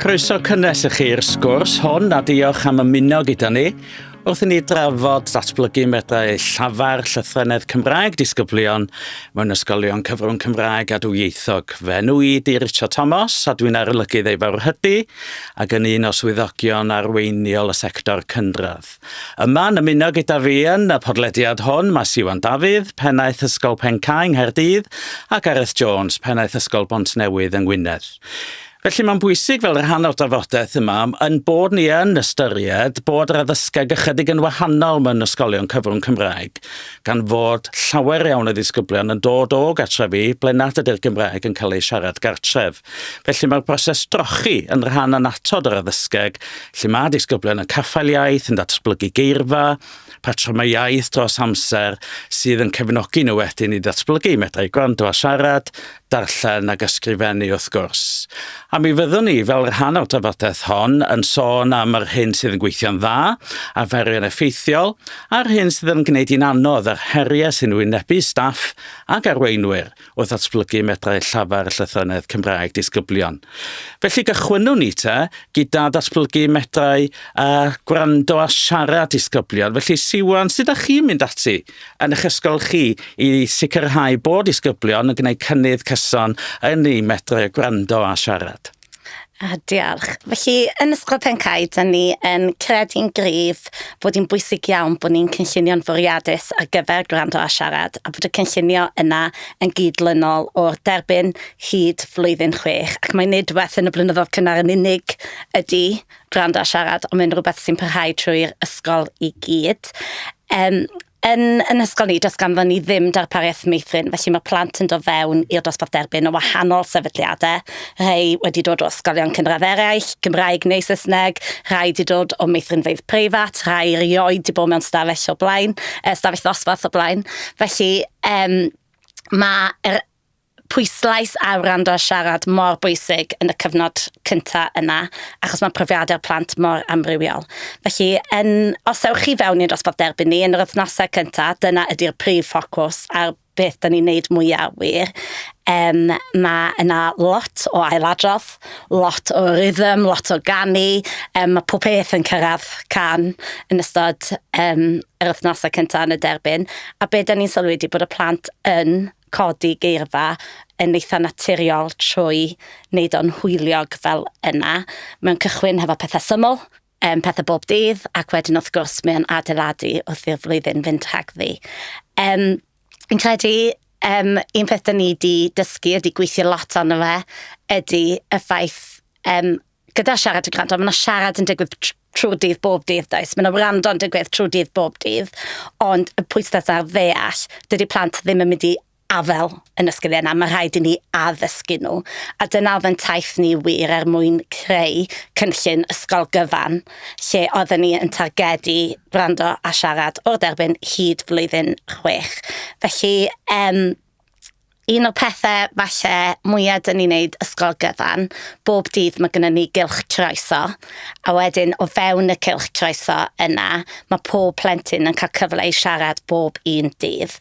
Croeso cynnes i chi'r sgwrs hwn a diolch am ymuno gyda ni wrth i ni drafod datblygu medrau llafar llythrennedd Cymraeg disgyblion mewn ysgolion cyfrwng Cymraeg a dwyieithog. Fe nhw i di Richard Thomas a dwi'n arolygydd ei fawrhydi ac yn un o swyddogion arweiniol y sector cynradd. Yma, yn ymuno gyda fi yn y podlediad hwn, mae Siwan Dafydd, pennaeth Ysgol Pencae yng Nghaerdydd, a Gareth Jones, pennaeth Ysgol Bontnewydd yng Ngwynedd. Felly mae'n bwysig fel rhan o'r drafodaeth yma yn bod ni yn ystyried bod yr addysgeg ychydig yn wahanol mewn ysgolion cyfrwng Cymraeg, gan fod llawer iawn o ddisgyblion yn dod o gartrefi ble nad ydy'r Gymraeg yn cael ei siarad gartref. Felly mae'r broses drochi yn rhan annatod o'r addysgeg, lle mae disgyblion yn caffael iaith, yn datblygu geirfa, patrymau iaith dros amser, sydd yn cefnogi nhw wedyn i ddatblygu medrau gwrando a siarad, darllen ac ysgrifennu wrth gwrs. A mi fyddwn ni, fel rhan o'r drafodaeth hon, yn sôn am yr hyn sydd yn gweithio'n dda, arferion effeithiol, a'r hyn sydd yn gwneud hi'n anodd a'r heriau sy'n wynebu staff ac arweinwyr. wrth ddatblygu medrau llafar llythrennedd Cymraeg disgyblion. Felly gychwynnwn ni te gyda datblygu medrau a gwrando a siarad disgyblion. Felly Siwan, sut ydych chi'n mynd ati yn eich ysgol chi i sicrhau bod disgyblion yn gwneud cynnydd cyson yn ei medrau gwrando a siarad? A, diolch. Felly, yn Ysgol Pen-cae, da ni yn credu'n gryf bod hi'n bwysig iawn bod ni'n cynllunio'n fwriadus ar gyfer gwrando a siarad, a bod y cynllunio yna yn gyd-lynol o'r derbyn hyd flwyddyn chwech, ac mai nid rhywbeth yn y blynyddoedd cynnar yn unig ydy gwrando a siarad, ond mae'n rhywbeth sy'n parhau trwy'r ysgol i gyd. Yym. Yn yn hysgol ni, does ganddon ni ddim darpariaeth meithrin, felly mae plant yn dod fewn i'r dosbarth derbyn o wahanol sefydliadau. Rhai wedi dod o ysgolion cynradd eraill, Gymraeg neu Saesneg, rhai wedi dod o meithrinfeydd preifat, rhai erioed wedi bod mewn stafell o blaen, uh, stafell ddosbarth o blaen. Felly, um, mae yr pwyslais ar wrando a siarad mor bwysig yn y cyfnod cynta yna, achos mae profiadau'r plant mor amrywiol. Felly, yn, os ewch chi fewn i'n dosbarth derbyn ni yn yr wythnosau cynta, dyna ydy'r prif ffocws a'r beth da ni'n neud mwyaf wir. Um, mae yna lot o ailadrodd, lot o rhythm, lot o ganu, um, mae pob peth yn cyrraedd can yn ystod um, yr wythnosau cynta yn y derbyn. A be da ni'n sylwi wedi bod y plant yn codi geirfa yn eitha naturiol trwy wneud o'n hwyliog fel yna. Mae'n cychwyn hefo pethau syml, um, pethau bob dydd, ac wedyn wrth gwrs mae'n adeiladu wrth i'r flwyddyn fynd rhagddi. Um, yn credu um, un peth da ni wedi dysgu, wedi gweithio lot arno fe, ydy y ffaith um, gyda siarad a gwrando, mae yna siarad yn digwydd trwy'r dydd bob dydd, does? Mae yna wrando yn digwydd trwy'r dydd bob dydd, ond y pwysles ar ddeall, dydy plant ddim yn mynd i afel yn y sgiliau yna, mae rhaid i ni addysgu nhw. A dyna oedd yn taith ni wir er mwyn creu cynllun ysgol gyfan, lle oedden ni yn targedu gwrando a siarad o'r derbyn hyd flwyddyn chwech. Felly, um, un o'r pethe falle mwya 'dyn ni'n neud ysgol gyfan, bob dydd mae gynnon ni gylch troeso, a wedyn o fewn y cylch troeso yna mae pob plentyn yn cael cyfle i siarad bob un dydd.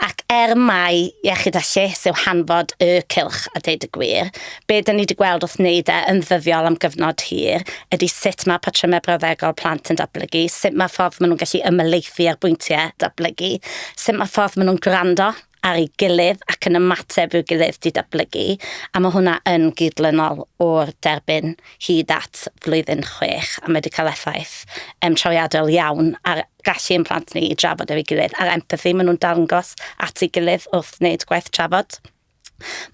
Ac er mai iechyd a lles yw hanfod y cylch a deud y gwir, be' 'dyn ni wedi gweld wrth wneud e yn ddyddiol am gyfnod hir ydy sut mae patrymau brawddegol plant yn datblygu, sut mae'r ffordd maen nhw'n gallu ymhelaethu ar bwyntiau datblygu, sut mae'r ffordd maen nhw'n gwrando. ar ei gilydd ac yn ymateb i'w gilydd didablygu, a mae hwnna yn gydlynol o'r derbyn hyd at flwyddyn chwech, a mae wedi cael effaith um, trawiadol iawn ar gallu ein plant ni i drafod efo'i gilydd, a'r empathi maen nhw'n darngos at ei gilydd wrth wneud gwaith trafod.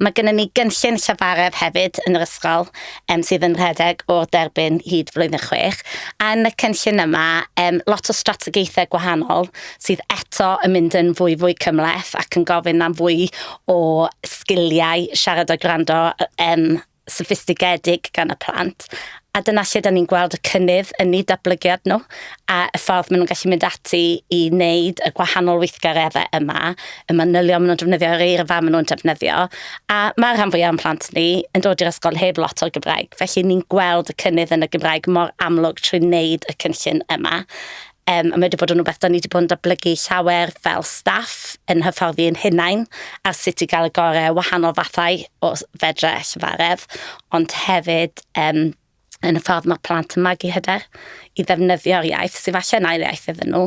Mae gennym ni gynllun llafaredd hefyd yn yr ysgol um, sydd yn rhedeg o'r derbyn hyd flwyddyn chwech. A yn y cynllun yma, um, lot o strategaethau gwahanol sydd eto yn mynd yn fwy fwy cymleth ac yn gofyn am fwy o sgiliau siarad a gwrando um, soffistigedig gan y plant, a dyna lle da ni'n gweld y cynnydd yn eu datblygiad nhw, a y ffordd maen nhw'n gallu mynd ati i wneud y gwahanol weithgareddau yma, y manylion maen nhw'n defnyddio, yr eirfa maen nhw'n defnyddio, a mae'r rhan fwyaf o'n plant ni yn dod i'r ysgol heb lot o'r Gymraeg, felly ni'n gweld y cynnydd yn y Gymraeg mor amlwg trwy wneud y cynllun yma. Yym, a mae wedi bod yn rhywbeth da ni wedi bod yn datblygu llawer fel staff yn hyfforddi yn hunain ar sut i gael y gorau wahanol fathau o fedre llyfaredd, ond hefyd um, yn y ffordd mae plant yn magu hyder i ddefnyddio'r iaith, sy'n falle yn ail iaith iddyn nhw,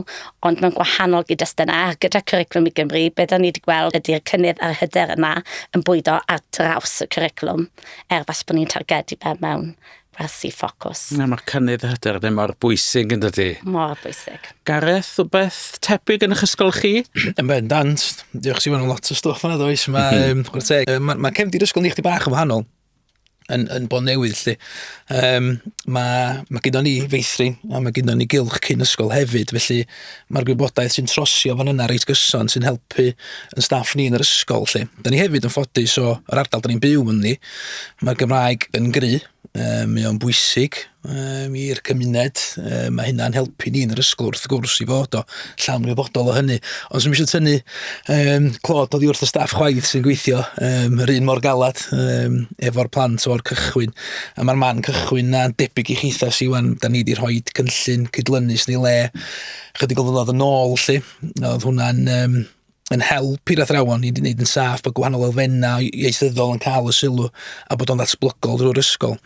ond mae'n gwahanol gyd yna. Gyda Cwriclwm i Gymru, be da ni wedi gweld ydy'r cynnydd a'r hyder yna yn bwydo ar draws y cwriclwm, er falle bod ni'n targedu fe mewn Rhasi ffocws. Na, mae cynnydd y hyder ddim mor bwysig yn dydy. Mor bwysig. Gareth, rhywbeth tebyg yn eich ysgol chi? Yn ben dant. Diolch Siwan am lot o stwff yna does. Mae, um, mm. mae, mae cefndir ysgol ni chdi bach yn wahanol yn, yn bod newydd lle. Um, mae, mae gyda ni feithrin a mae gyda ni gylch cyn ysgol hefyd, felly Mae'r gwybodaeth sy'n trosio fan yna reit gyson sy'n helpu yn staff ni yn yr ysgol 'lly. Da ni hefyd yn ffodus o yr ardal da ni'n byw ynddi. Mae'r Gymraeg yn gry, yy mae o'n bwysig um, i'r cymuned. Uh, mae hynna'n helpu ni yn yr ysgol wrth gwrs i fod o llawn wybodol o hynny. Ond sy'n eisiau tynnu um, clod oddi wrth y staff chwaith sy'n gweithio um, yr un mor galad um, efo'r plant o'r cychwyn. A mae'r man cychwyn 'na, debyg i chithau sy'n wan, da ni wedi rhoi cynllun cydlynus ni le chydig o ddod yn ôl lle. Oedd hwnna'n um, yn help i'r athrawon i wneud yn saff bod gwahanol elfennau ieithyddol yn cael y sylw a bod o'n ddatblygol drwy'r ysgol.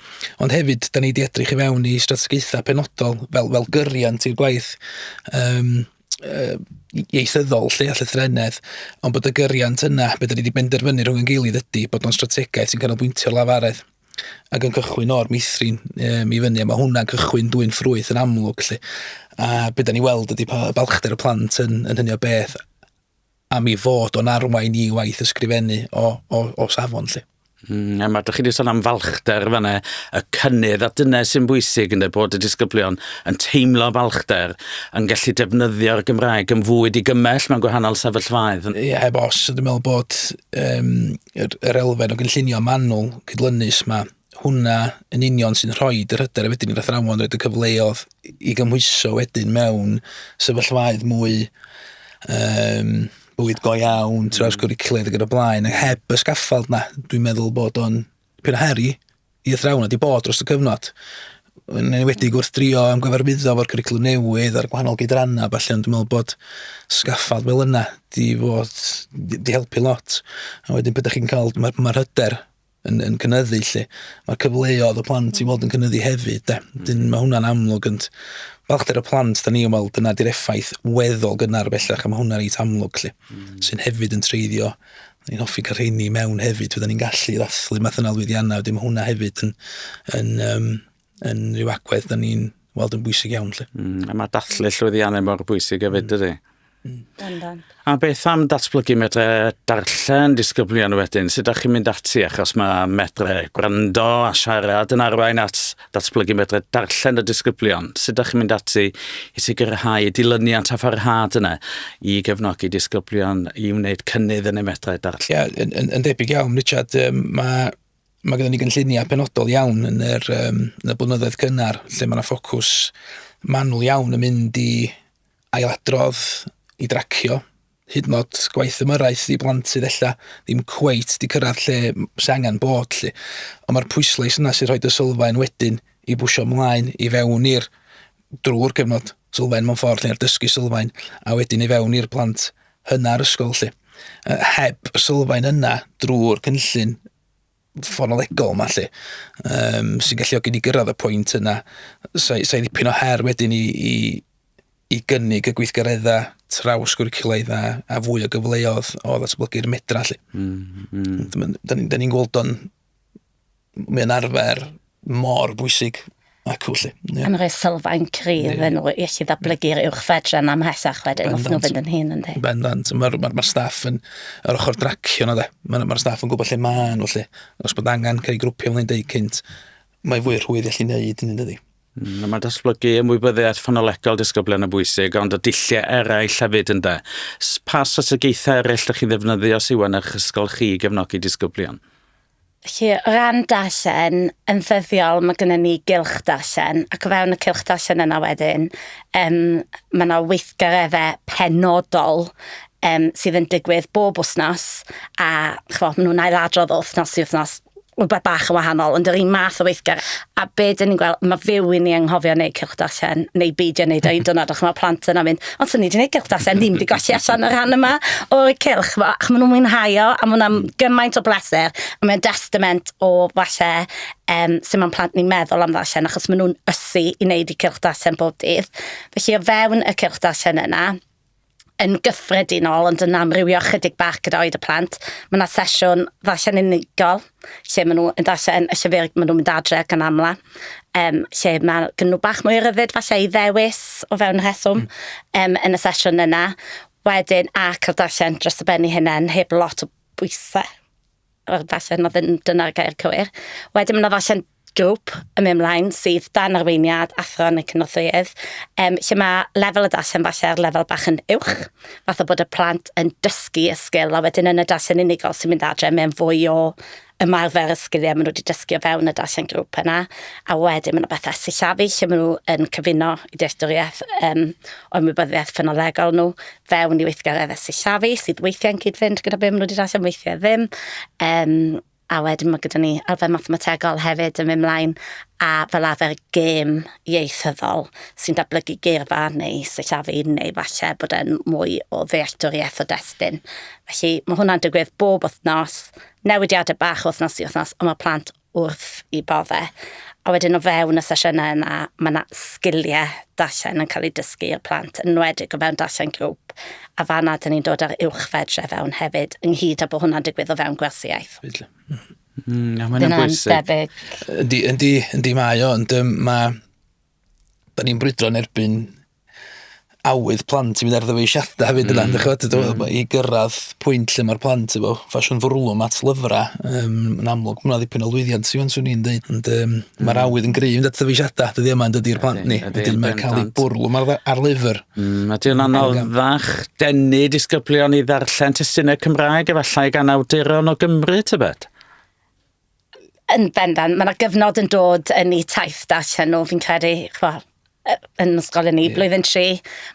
Ond hefyd, da ni wedi edrych i fewn i strategaethau penodol fel, fel gyriant i'r gwaith. Um, yy ieithyddol 'lly a llythrennedd ond bod y gyriant yna be' 'da ni 'di benderfynu rhwng 'yn gilydd ydi bod o'n strategaeth sy'n canolbwyntio lafaredd ac yn cychwyn o'r meithrin yym i fyny a ma' hwnna'n cychwyn dwyn ffrwyth yn amlwg 'lly a be' 'da ni weld ydi pa- balchder y plant yn yn hynny o beth am ei fod o'n arwain i waith ysgrifennu o, o, o safon lle. Mm, a mae, dych chi wedi sôn am falchder fan e, y cynnydd, a dyna sy'n bwysig yn y bod y disgyblion yn teimlo falchder, yn gallu defnyddio'r Gymraeg yn fwy digymell mewn gwahanol sefyllfaoedd. Ie, yeah, heb os, dwi'n meddwl bod um, yr, yr elfen o gynllunio manwl cydlynus mae hwnna yn union sy'n rhoi yr hyder a wedyn i'r athrawon roed y cyfleodd i gymhwyso wedyn mewn sefyllfaoedd mwy um, bywyd go iawn, mm. trawsgwricwlaidd ac yn y blaen, ac heb y sgaffald na, dwi'n meddwl bod o'n pyn o heri i athrawon wedi bod dros y cyfnod. Yn enwedig wrth drio am gyfarwyddo fo'r cwricwlwm newydd a'r gwahanol gydrannau, falle, ond dwi'n meddwl bod sgaffald fel yna di, fod, di, di helpu lot. A wedyn, peth chi'n cael, mae'r ma hyder yn, yn cynyddu lle. Mae cyfleoedd y plant i fod yn cynyddu hefyd. De. Mm. Dyn, mae hwnna'n amlwg yn balchder y plant, da ni yn weld yna di'r effaith weddol gynnar bellach, a mae hwnna'n reit amlwg lle, mm. sy'n hefyd yn treiddio ni'n hoffi cael rheini mewn hefyd, fydden ni'n gallu ddathlu math yna lwyddiannau, wedyn mae hwnna hefyd yn, yn, um, yn rhyw agwedd da ni'n weld yn bwysig iawn. Lle. Mm, a mae dathlu llwyddiannau mor bwysig hefyd, mm. dydy? Mm. A beth am datblygu medre darllen disgyblion wedyn? Sut ydych chi'n mynd ati? Achos mae medre gwrando a siarad yn arwain at datblygu medre darllen y disgyblion. Sut ydych chi'n mynd ati i sicrhau dilyniant a pharhad yna i gefnogi disgyblion i wneud cynnydd yn y medre darllen? Ie, yeah, yn, yn, yn debyg iawn, Richard, um, mae Mae gyda ni gynlluniau penodol iawn yn yr, um, yn y blynyddoedd cynnar lle mae yna ffocws manwl iawn yn mynd i ailadrodd, i dracio, hyd yn oed gwaith ymyrraeth i blant sydd ella ddim cweit di cyrraedd lle sy'n angen bod lle. Ond mae'r pwyslais yna sy'n rhoi dy sylfaen wedyn i bwysio mlaen i fewn i'r drwy'r cyfnod sylfaen mewn ffordd lle'r dysgu sylfaen a wedyn i fewn i'r plant hynna ar ysgol lle. Uh, heb y sylfaen yna drwy'r cynllun ffonolegol yma lle um, sy'n galluogi ni gyrraedd y pwynt yna sa'i sa ddipyn o her wedyn i, i, i gynnig y gweithgareddau traws gwricwlaidd a, a fwy o gyfleodd o ddatblygu'r medra lle. Mm, mm. Da ni'n ni gweld o'n m- mae'n arfer mor bwysig ac felly. Ie. Yn rhoi sylfaen cryf yeah. yn rhoi iechyd ddatblygu'r yeah. uwch fedran am hesach wedyn os nhw'n fynd yn hyn yn di. Bendant. Mae'r ma, ma staff yn yr ochr dracio yna de. Mae'r ma staff yn gwybod lle maen nhw lle. Os bod angen cael ei grwpio fel ni'n deud cynt, mae fwy rhwydd i allu neud hynny dydy. Mm, mae datblygu ymwybyddiaeth ffonolegol disgyblion yn bwysig, ond y dulliau eraill hefyd ynda. Pa strategaethau eraill ydych chi'n ddefnyddio sy'n yn eich ysgol chi i gefnogi disgyblion? Felly, o ran darllen, yn ddyddiol mae gennym ni gylch darllen, ac o fewn y cylch darllen yna wedyn, um, mae yna weithgareddau penodol um, sydd yn digwydd bob wsnos, a chfo, maen nhw'n ailadrodd o wsnos i wsnos, rhywbeth bach yn wahanol, ond yr un math o weithgar. A be dyn ni'n gweld, mae fyw i ni anghofio neu cylch darllen, neu beidio wneud o'i dynod, ac mae plant yna mynd, ond swn ni wedi gwneud cylch darllen, ddim wedi gwasio allan y rhan yma o'r cylch, ac maen nhw'n mwynhau o, a maen nhw'n hmm. gymaint o bleser, a mae'n destament o falle um, sy'n ma'n plant ni'n meddwl am ddarllen, achos maen nhw'n ysu i wneud i cylch darllen bob dydd. Felly o fewn y cylch darllen yna, yn gyffredinol ond yn amrywio chydig bach gyda oed y plant. Mae yna sesiwn ddarllen unigol lle maen nhw yn darllen y llyfr maen nhw'n mynd adre gan amla. Um, lle mae gen nhw bach mwy o ryddid falle i ddewis o fewn rheswm um, yn y sesiwn yna. Wedyn ac ar darllen dros y ben i hynna'n heb lot o bwysau. Wel, falle na ddim dyna'r gair cywir. Wedyn mae 'na ddarllen grŵp yn mynd mlaen sydd dan arweiniad athro neu cynorthwyydd, um, lle mae lefel y darllen falle ar lefel bach yn uwch, fath o bod y plant yn dysgu y sgil, a wedyn yn y darllen unigol sy'n mynd adre, mae'n fwy o ymarfer y sgiliau maen nhw wedi dysgu o fewn y darllen grŵp yna, a wedyn mae yna bethau sillafu lle maen nhw yn cyfuno i dealltwriaeth um, o'u ymwybyddiaeth ffynolegol nhw, fewn i weithgareddau sillafu sydd weithiau'n cyd-fynd gyda be maen nhw wedi darllen, weithiau ddim. Um, a wedyn mae gyda ni arfer mathemategol hefyd yn mynd mlaen a fel arfer gêm ieithyddol sy'n datblygu geirfa neu sillafu neu falle bod e'n mwy o ddealltwriaeth o destun. Felly mae hwnna'n digwydd bob wythnos, newidiadau bach wythnos i wythnos, ond mae plant wrth i bore. A wedyn o fewn y sesiynau yna, mae yna sgiliau darllen yn cael eu dysgu i'r plant, yn enwedig o fewn darllen grŵp, a fan'na dan ni'n dod â'r uwchfedre fewn hefyd, ynghyd â bod hwnna'n digwydd o fewn gwersi iaith. Mm, a mae hwnna'n bwysig. Ydy, ydy, ydy mae o, ond mae da ni'n brwydro yn erbyn awydd plant i fynd ar ddyfeisiadau hefyd yna, mm. chwbod, mm. i gyrraedd pwynt lle mae'r plant efo ffasiwn fwrlwm at lyfrau um, yn amlwg. Mae'n ddipen o lwyddiant sy'n swn i'n dweud, ond um, mm. mae'r awydd yn gryf yn dod ddyfeisiadau, dydy yma yn dydy'r plant ni, dydy mae'n cael ei bwrlwm ar, ar lyfr. Mm, a diw'n anoddach denu disgyblion i ddarllen testunau Cymraeg efallai gan awduron o Gymru, tybed? Yn bendant, mae yna gyfnod yn dod yn eu taith darllen nhw, fi'n credu, chwa, yn ysgol yn ni, yeah. blwyddyn tri,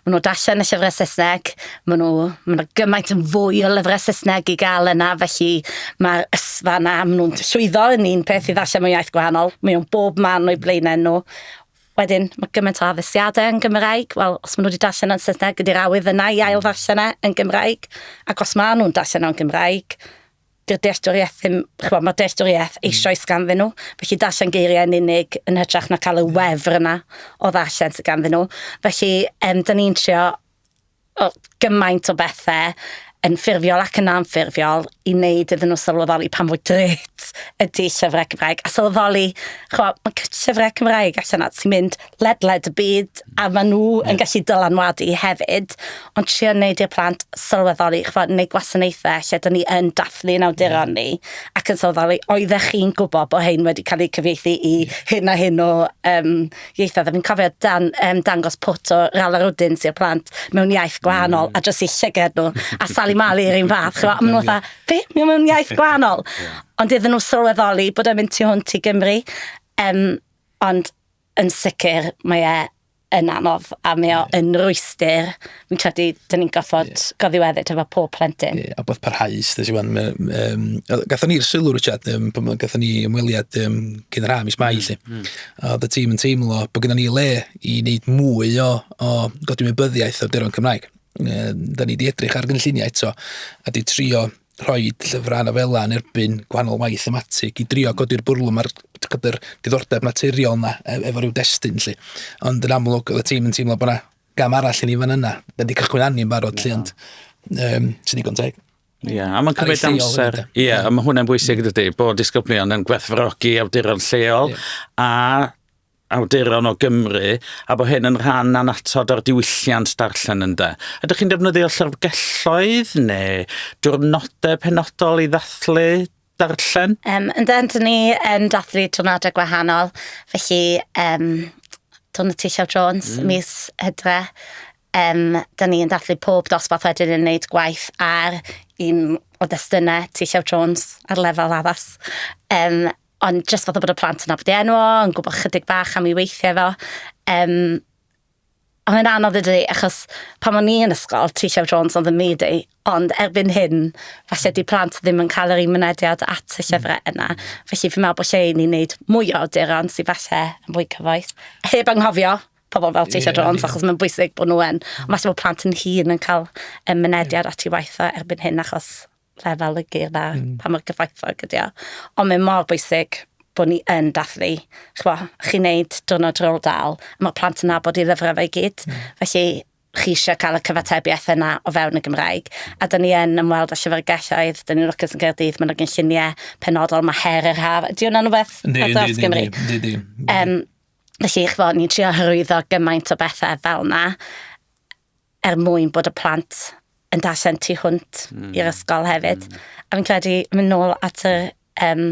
maen nhw darllen y llyfrau Saesneg, maen nhw, maen nhw gymaint yn fwy o lyfrau Saesneg i gael yna, felly mae'r ysfa yna, maen nhw'n llwyddo yn un peth i ddarllen mewn iaith gwahanol, maen nhw'n bob man o'i blaenau nhw. Wedyn, mae gymaint o addesiadau yn Gymraeg, wel, os maen nhw wedi darllen yn Saesneg, ydy'r awydd yna i ail ddarllen e yn Gymraeg, ac os maen nhw'n darllen o'n Gymraeg, 'di'r dealltwriaeth ddim, ch'bo, mae'r dealltwriaeth hmm. eisoes ganddyn nhw, felly darllen geiriau yn unig yn hytrach na cael y wefr yna o ddarllen sydd ganddyn nhw. Felly, um, da ni'n trio o, gymaint o bethau yn ffurfiol ac yn anffurfiol i wneud iddyn nhw sylweddoli pan fwy dret ydy llyfrau Cymraeg. A sylweddoli, chwa, mae llyfrau Cymraeg allan at sy'n mynd ledled y byd a maen nhw yeah. yn gallu dylanwadu hefyd, ond trio wneud i'r plant sylweddoli, chfod, neu gwasanaethau lle dyn ni yn dathlu yn awduron yeah. ni, ac yn sylweddoli, oeddech chi'n gwybod bod hyn wedi cael eu cyfieithu i yeah. hyn a hyn o um, ieithoedd. A fi'n cofio dan, um, dangos pwt o ral ar wdyn sy'r plant mewn iaith gwahanol, mm. a jyst i llyged nhw, a Sally Mali yr un fath, chfod, maen nhw fatha, be, mewn iaith gwahanol? yeah. Ond iddyn nhw sylweddoli bod e'n mynd tu hwnt i Gymru, um, ond Yn sicr, mae e yn anodd a mae o yn rwystyr. Fi'n credu, dyn ni'n gorfod yeah. goddiweddyd efo pob plentyn. Yeah, a bod parhaus, dys iwan. Um, gatho ni'r sylw, Richard, um, pan gatho ni ymweliad um, cyn yr ha, mis mai, lle. Mm. mm. A y tîm yn teimlo bod gyda ni le i wneud mwy o, o godimybyddiaeth o'r deron Cymraeg. Um, da ni wedi edrych ar gynlluniau eto a di trio rhoi llyfrau a nofelau yn erbyn gwahanol waith thematig i drio godi'r bwrlwm a'r diddordeb naturiol yna e, efo rhyw destun lle. Ond yn amlwg, oedd y tîm yn teimlo bod yna gam arall i ni fan yna. Da wedi cychwyn anni'n barod lle, ond um, sy'n digon teg. Ie, yeah, a mae'n cymryd amser. Ie, yeah, a mae hwnna'n bwysig, dydy, bod disgyblion yn gwerthfawrogi awduron lleol yeah. a awduron o Gymru, a bod hyn yn rhan annatod o'r diwylliant darllen ynde. Ydych chi'n defnyddio llyfrgelloedd neu diwrnodau penodol i ddathlu darllen? Um, yn dyn, dyn ni yn dathlu diwrnodau gwahanol, felly um, Dwn y Tillio Jones, mm. mis hydre, um, dyn ni'n dathlu pob dosbarth wedyn yn wneud gwaith ar un o destunau Tillio Jones ar lefel addas. Um, Ond jyst fatha bod y plant yn nabod ei enw o, yn gwybod chydig bach am ei weithiau fo. Um, a mae'n anodd i dydi, achos pan o'n i yn ysgol, T Llew Jones oedd yn myd i, ond erbyn hyn, falle di plant ddim yn cael yr un mynediad at y llyfrau mm. yna. Felly fi'n meddwl bod lle i ni wneud mwy o awduron sy'n falle yn fwy cyfoes. Heb anghofio pobl fel T Llew Jones, achos mae'n bwysig bod nhw yn. Ond falle bod plant yn hun yn cael mynediad at ei waith o erbyn hyn, achos lefel y geirfa, mm. pa mor gyfoethog ydy o. Ond mae mor bwysig bod ni yn dathlu. Chwa, chi'n neud diwrnod rôl dal, mae plant yn nabod i lyfrau fe gyd. Mm. Felly, chi eisiau cael y cyfatebiaeth yna o fewn y Gymraeg. A dyn ni yn ymweld â llyfrgelloedd, dyn ni'n lwcus yn Gaerdydd, mae'n ogyn lluniau penodol, mae her yr haf. Ydy hwnna'n rhywbeth? Di, di, di, di, di, di. Um, felly, chwa, ni'n trio hyrwyddo gymaint o bethau fel yna. er mwyn bod y plant yn darllen tu hwnt mm. i'r ysgol hefyd. Mm. A fi'n credu, mynd nôl at y, um,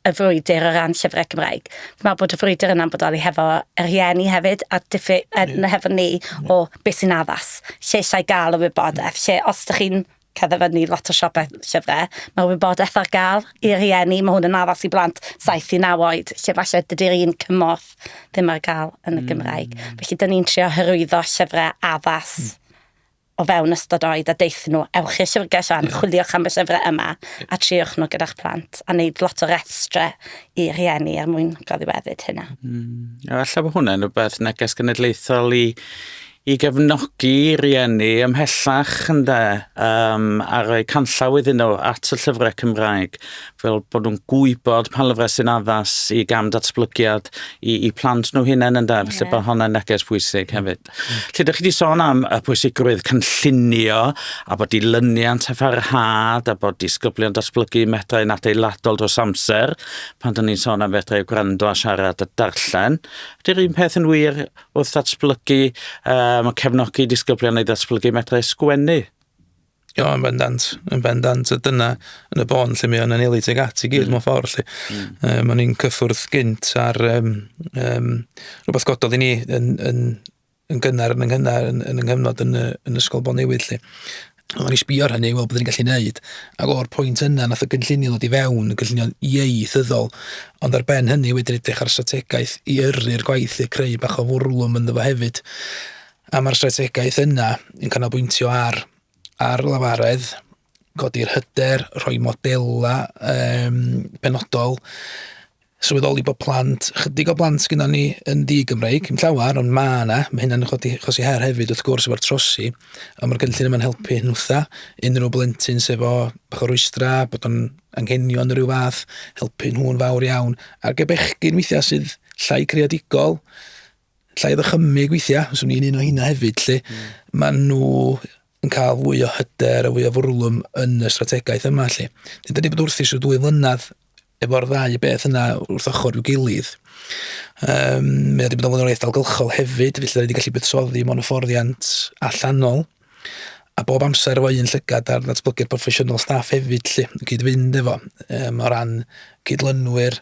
y frwydr o ran llyfrau Cymraeg. Fi'n meddwl bod y frwydr yna'n bodoli hefo yr hieni hefyd, a diffu, yeah. hefo ni o beth sy'n addas, lle eisiau gael y wybodaeth, lle os ydych chi'n cerdded fyny lot o siopau llyfrau. Mae wybodaeth ar gael i rieni, mae hwn yn addas i blant 7 i 9 oed, lle falle dydy'r un cymorth ddim ar gael yn y hmm. Gymraeg. Mm. Felly, dyn ni'n trio hyrwyddo llyfrau addas mm o fewn ystod oed a deith nhw, ewch i'r llyfrgell fan, yeah. chwiliwch am y llyfrau yma a triwch nhw gyda'ch plant a wneud lot o restrau i rieni er mwyn goddiweddyd hynna. Mm. A falle bod hwnna'n rhywbeth neges genedlaethol i, i gefnogi rieni ymhellach ynde, um, a rhoi canllaw iddyn nhw at y llyfrau Cymraeg, fel bod nhw'n gwybod pa lyfrau sy'n addas i gam datblygiad i, i plant nhw hunain ynde, yeah. felly bod hwnna'n neges pwysig hefyd. Mm. Lle ydych chi wedi sôn am y pwysigrwydd cynllunio a bod dilyniant a pharhad a bod disgyblion datblygu medrau'n adeiladol dros amser, pan dyn ni'n sôn am fedrau gwrando a siarad a darllen, ydy'r un peth yn wir Wrth ddatblygu, uh, mae cefnogi disgyblion i ddatblygu medrau sgwennu. Jo, yn bendant, yn bendant, a dyna yn y bon lle mae o'n anelu teg at i gyd mm. mewn ffordd lle. Mm. Uh, mae ni'n cyffwrdd gynt ar um, um, rhywbeth gododd i ni yn, yn, yn gynnar yn ynghynar yn, yn ynghyfnod yn, yn ysgol Bon Newydd lle. Oedden ni sbio ar hynny, weld beth ni'n gallu neud. Ac o'r pwynt yna, nath y gynllunio ddod i fewn, y gynllunio ieithyddol. Ond ar ben hynny, wedyn edrych ar strategaeth i yrru'r gwaith i'r creu bach o fwrlwm ynddo fo hefyd. A mae'r strategaeth yna yn canolbwyntio ar, ar lafaredd, godi'r hyder, rhoi modela um, penodol, sylweddoli bod plant, chydig o blant sgynnon ni yn ddi-Gymreig, yn llawer, ond ma' yna, mae hynna'n chodi, chosi her hefyd wrth gwrs efo'r trosi, ond mae'r gynllun yma'n helpu hyn wrtha, unrhyw blentyn sef o bach o rwystra, bod o'n anghenion rhyw fath, helpu nhw'n fawr iawn, ar gebechgyn weithiau sydd llai creadigol, llai ddychymyg weithiau, os o'n i'n un o hynna hefyd, lle mm. maen nhw yn cael fwy o hyder a fwy o fwrlwm yn y strategaeth yma lle. Dyn ni bod wrthus o dwy flynedd efo'r ddau beth yna wrth ochr i'w gilydd. Um, mae wedi bod yn flaenoriaeth dalgylchol hefyd, felly da ni wedi gallu buddsoddi mewn hyfforddiant allanol. A bob amser efo un llygad ar ddatblygu'r proffesiynol staff hefyd lle, yn cyd-fynd efo, um, o ran cydlynwyr,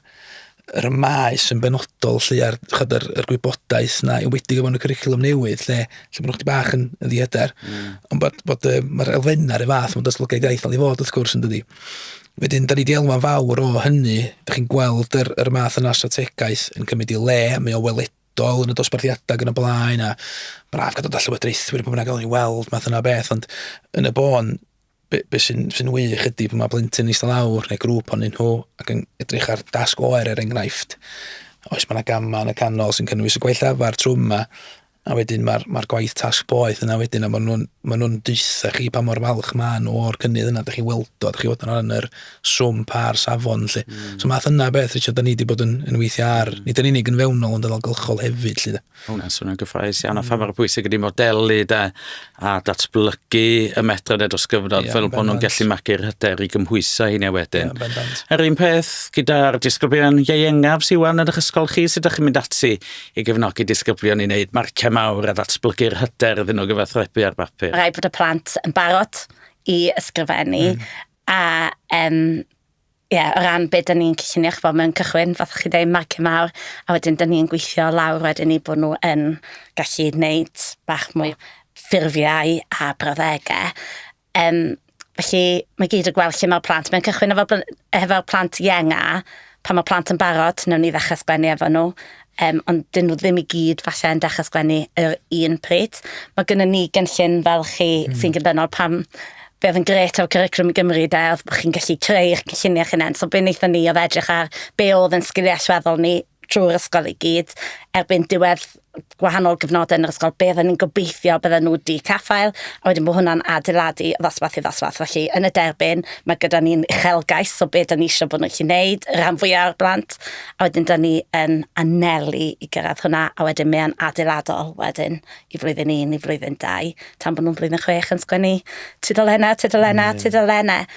yr y maes yn benodol lle a'r chod yr, yr gwybodaeth na yn wedi gyfon y cwricwlwm newydd lle, lle bod nhw'n bach yn, yn ddiedar. Mm. Ond bod, bod uh, mae'r elfenna rhywun fath mewn datblygiad iaith fel i fod wrth gwrs yn dydi. Wedyn, da ni wedi elwa'n fawr o hynny, da chi'n gweld yr, yr math yna strategaeth yn cymryd i le, mae o weledol yn y dosbarthiadau gan y blaen a braf gadw da llywodraethwyr pan bynnag o'n i weld math yna beth, ond yn y bôn, be, be sy'n sy wych ydy bod mae blentyn eistedd lawr neu grŵp o'n nhw ac yn edrych ar dasg oer er enghraifft. Oes mae yna gamau yn y canol sy'n cynnwys y gwaith lafar trwy yma a wedyn mae'r mae gwaith tasg boeth yna wedyn a maen nhw'n ma nhw deutha chi pa mor falch maen nhw o'r cynnydd yna. Dych chi weld o, dych chi fod yn yr swm pa'r safon lle. Mm. So math yna beth, Richard, da ni wedi bod yn, yn weithio ar, nid yn unig yn fewnol ond yn algylchol hefyd lle. Mae hwnna'n swnio'n gyffroes iawn a pha mor bwysig ydy modelu da a datblygu y medrad dros gyfnod yeah, fel bod nhw'n gallu magu'r hyder i gymhwyso heini wedyn. Yeah, Yr un peth gyda'r disgyblion ieuengaf sy'n wan yn eich ysgol chi, sut ydych chi'n mynd ati i gefnogi disgyblion i wneud marciau mawr a ddatblygu'r hyder iddyn nhw gyfathrebu ar bapur? Rhaid bod y plant yn barod i ysgrifennu mm. a um, ie, yeah, o ran beth dyn ni'n cyllunio, chi'n bod, mewn cychwyn, fath chi dweud, marcio mawr, a wedyn dyn ni'n gweithio lawr wedyn ni bod nhw yn gallu wneud bach mwy ffurfiau a brawddegau. Um, felly, mae gyd o gweld lle mae'r plant. Mae'n cychwyn efo, efo plant ienga, pan mae plant yn barod, newn ni ddechrau sgwennu efo nhw, Yym, ond 'dyn nhw ddim i gyd falle yn dechrau sgwennu yr un pryd. Mae gennym ni gynllun fel chi mm. sy'n gyndynol pam be oedd yn gret o'r curriculum i Gymru de, oedd bod chi'n gallu creu eich cynlluniau chi'n hunain. So be wnaethon ni oedd edrych ar be oedd yn sgiliau allweddol ni trwy'r ysgol i gyd erbyn diwedd gwahanol gyfnodau yn yr ysgol, beth ni'n gobeithio bydden nhw wedi caffael, a wedyn bod hwnna'n adeiladu o ddosbarth i ddosbarth. Felly, yn y derbyn, mae gyda ni'n uchelgais o beth ni'n eisiau bod nhw'n gallu gwneud, rhan fwyaf o'r blant, A wedyn 'dan ni yn anelu i gyrraedd hwnna, a wedyn mae o'n adeiladol wedyn i flwyddyn un, i flwyddyn dau, tan bod nhw'n flwyddyn chwech yn sgwennu tudolennau, tudolennau, tudolennau.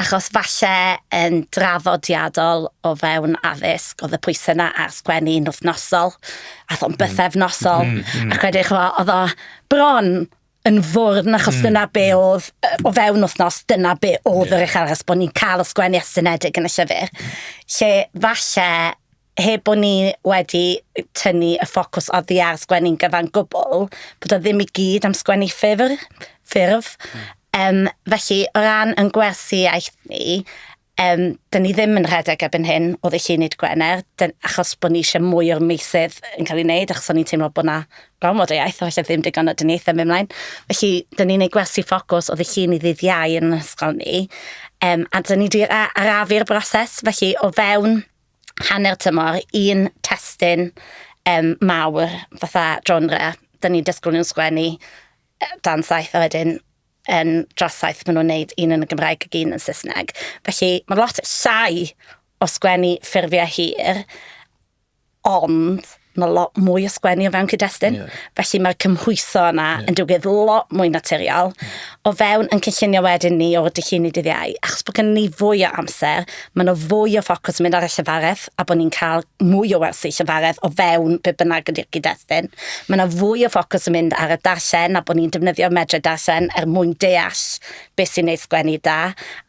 Achos falle yn drafodiadol o fewn addysg, oedd y pwysau yna ar sgwennu yn wythnosol, a thon bythefnosol, mm, mm, mm. ac wedyn chwa, oedd o bron yn fwrn achos mm. dyna be oedd o fewn wythnos, dyna be oedd yeah. yr eich aros bod ni'n cael ysgwennu estynedig yn y llyfr. Lle falle heb bod ni wedi tynnu y ffocws oddi ar sgwennu'n gyfan gwbl, bod o ddim i gyd am sgwennu ffurf. ffurf. Mm. Um, felly, o ran yn gwersi iaith ni, Yym, 'dyn ni ddim yn rhedeg erbyn hyn o ddichunid Gwener, dyn- achos bod ni eisiau mwy o'r meysydd yn cael ei wneud, achos o'n ni'n teimlo bod na gormod o iaith, a falle ddim digon o dyniaethau yn mynd mlaen. Felly, dyn ni'n ei gwersi ffocws o ddichun i ddydd iau yn ysgol ni, um, a dyn ni wedi arafu'r broses, felly o fewn hanner tymor, un testyn um, mawr, fatha genre, dyn ni'n disgwyl nhw'n sgwennu dan saith a wedyn yn drasaith maen nhw'n neud un yn y Gymraeg ac un yn Saesneg. Felly mae lot llai o sgwennu ffurfiau hir, ond mae lot mwy o sgwennu o fewn cyd-destun. Yeah. Felly mae'r cymhwyso yna yeah. yn digwydd lot mwy naturiol. O fewn yn cynllunio wedyn ni o'r dydd llun i dydd iau, achos bod gen ni fwy o amser, Mae yna fwy o ffocws yn mynd ar y llefaredd a bod ni'n cael mwy o wersi llefaredd o fewn be bynnag ydy'r gyd-destun. Mae yna fwy o ffocws yn mynd ar y darllen a bod ni'n defnyddio'r medrau darllen er mwyn deall beth sy'n neud sgwennu da.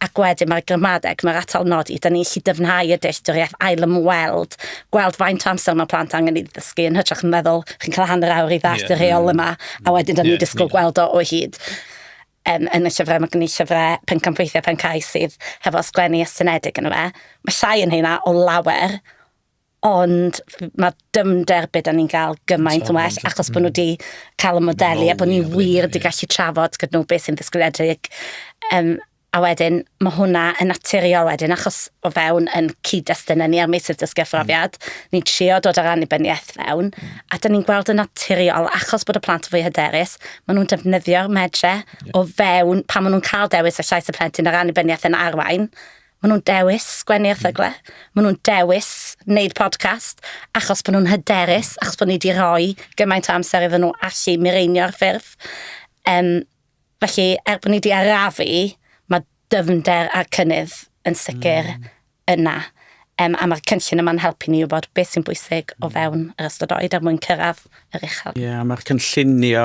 Ac wedyn mae'r gramadeg, mae'r atal nodi, da ni'n gallu dyfnhau y dealltwriaeth, ail-ymweld, gweld faint o amser mae plant angen i ddysgu yn hytrach yn meddwl chi'n cael hanner awr i ddallt y rheol yma a wedyn da ni'n disgwyl gweld o o hyd. Yn yn y llyfrau mae gen i llyfrau pencampweithiau Pencau sydd hefo sgwennu estynedig yn fe. Mae llai yn heina o lawer, ond mae dyfnder be' 'dan ni'n gael gymaint yn well achos bod nhw wedi cael y modelu a bod ni wir wedi gallu trafod gyda nhw beth sy'n ddisgwyliedig. Um, a wedyn mae hwnna yn naturiol wedyn achos o fewn yn cyd-destun ni ar meysydd dysgu a phrofiad, mm. ni'n trio dod ar annibyniaeth fewn, mm. a dyn ni'n gweld yn naturiol achos bod y plant yn fwy hyderus, Maen nhw'n defnyddio'r medre o fewn pan maen nhw'n cael dewis y llais y plentyn ar annibyniaeth yn arwain. Maen nhw'n dewis sgwennu erthygle. Maen nhw'n dewis wneud podcast achos bod nhw'n hyderus, achos bod ni wedi rhoi gymaint o amser iddyn nhw allu mireinio'r ffurf. Um, felly, er bod ni wedi arafu, mae dyfnder a cynnydd yn sicr mm. yna. Um, a mae'r cynllun yma'n helpu ni wybod beth sy'n bwysig o mm. fewn yr ystod oed er mwyn cyrraedd yr uchel. Ie, yeah, mae'r cynllunio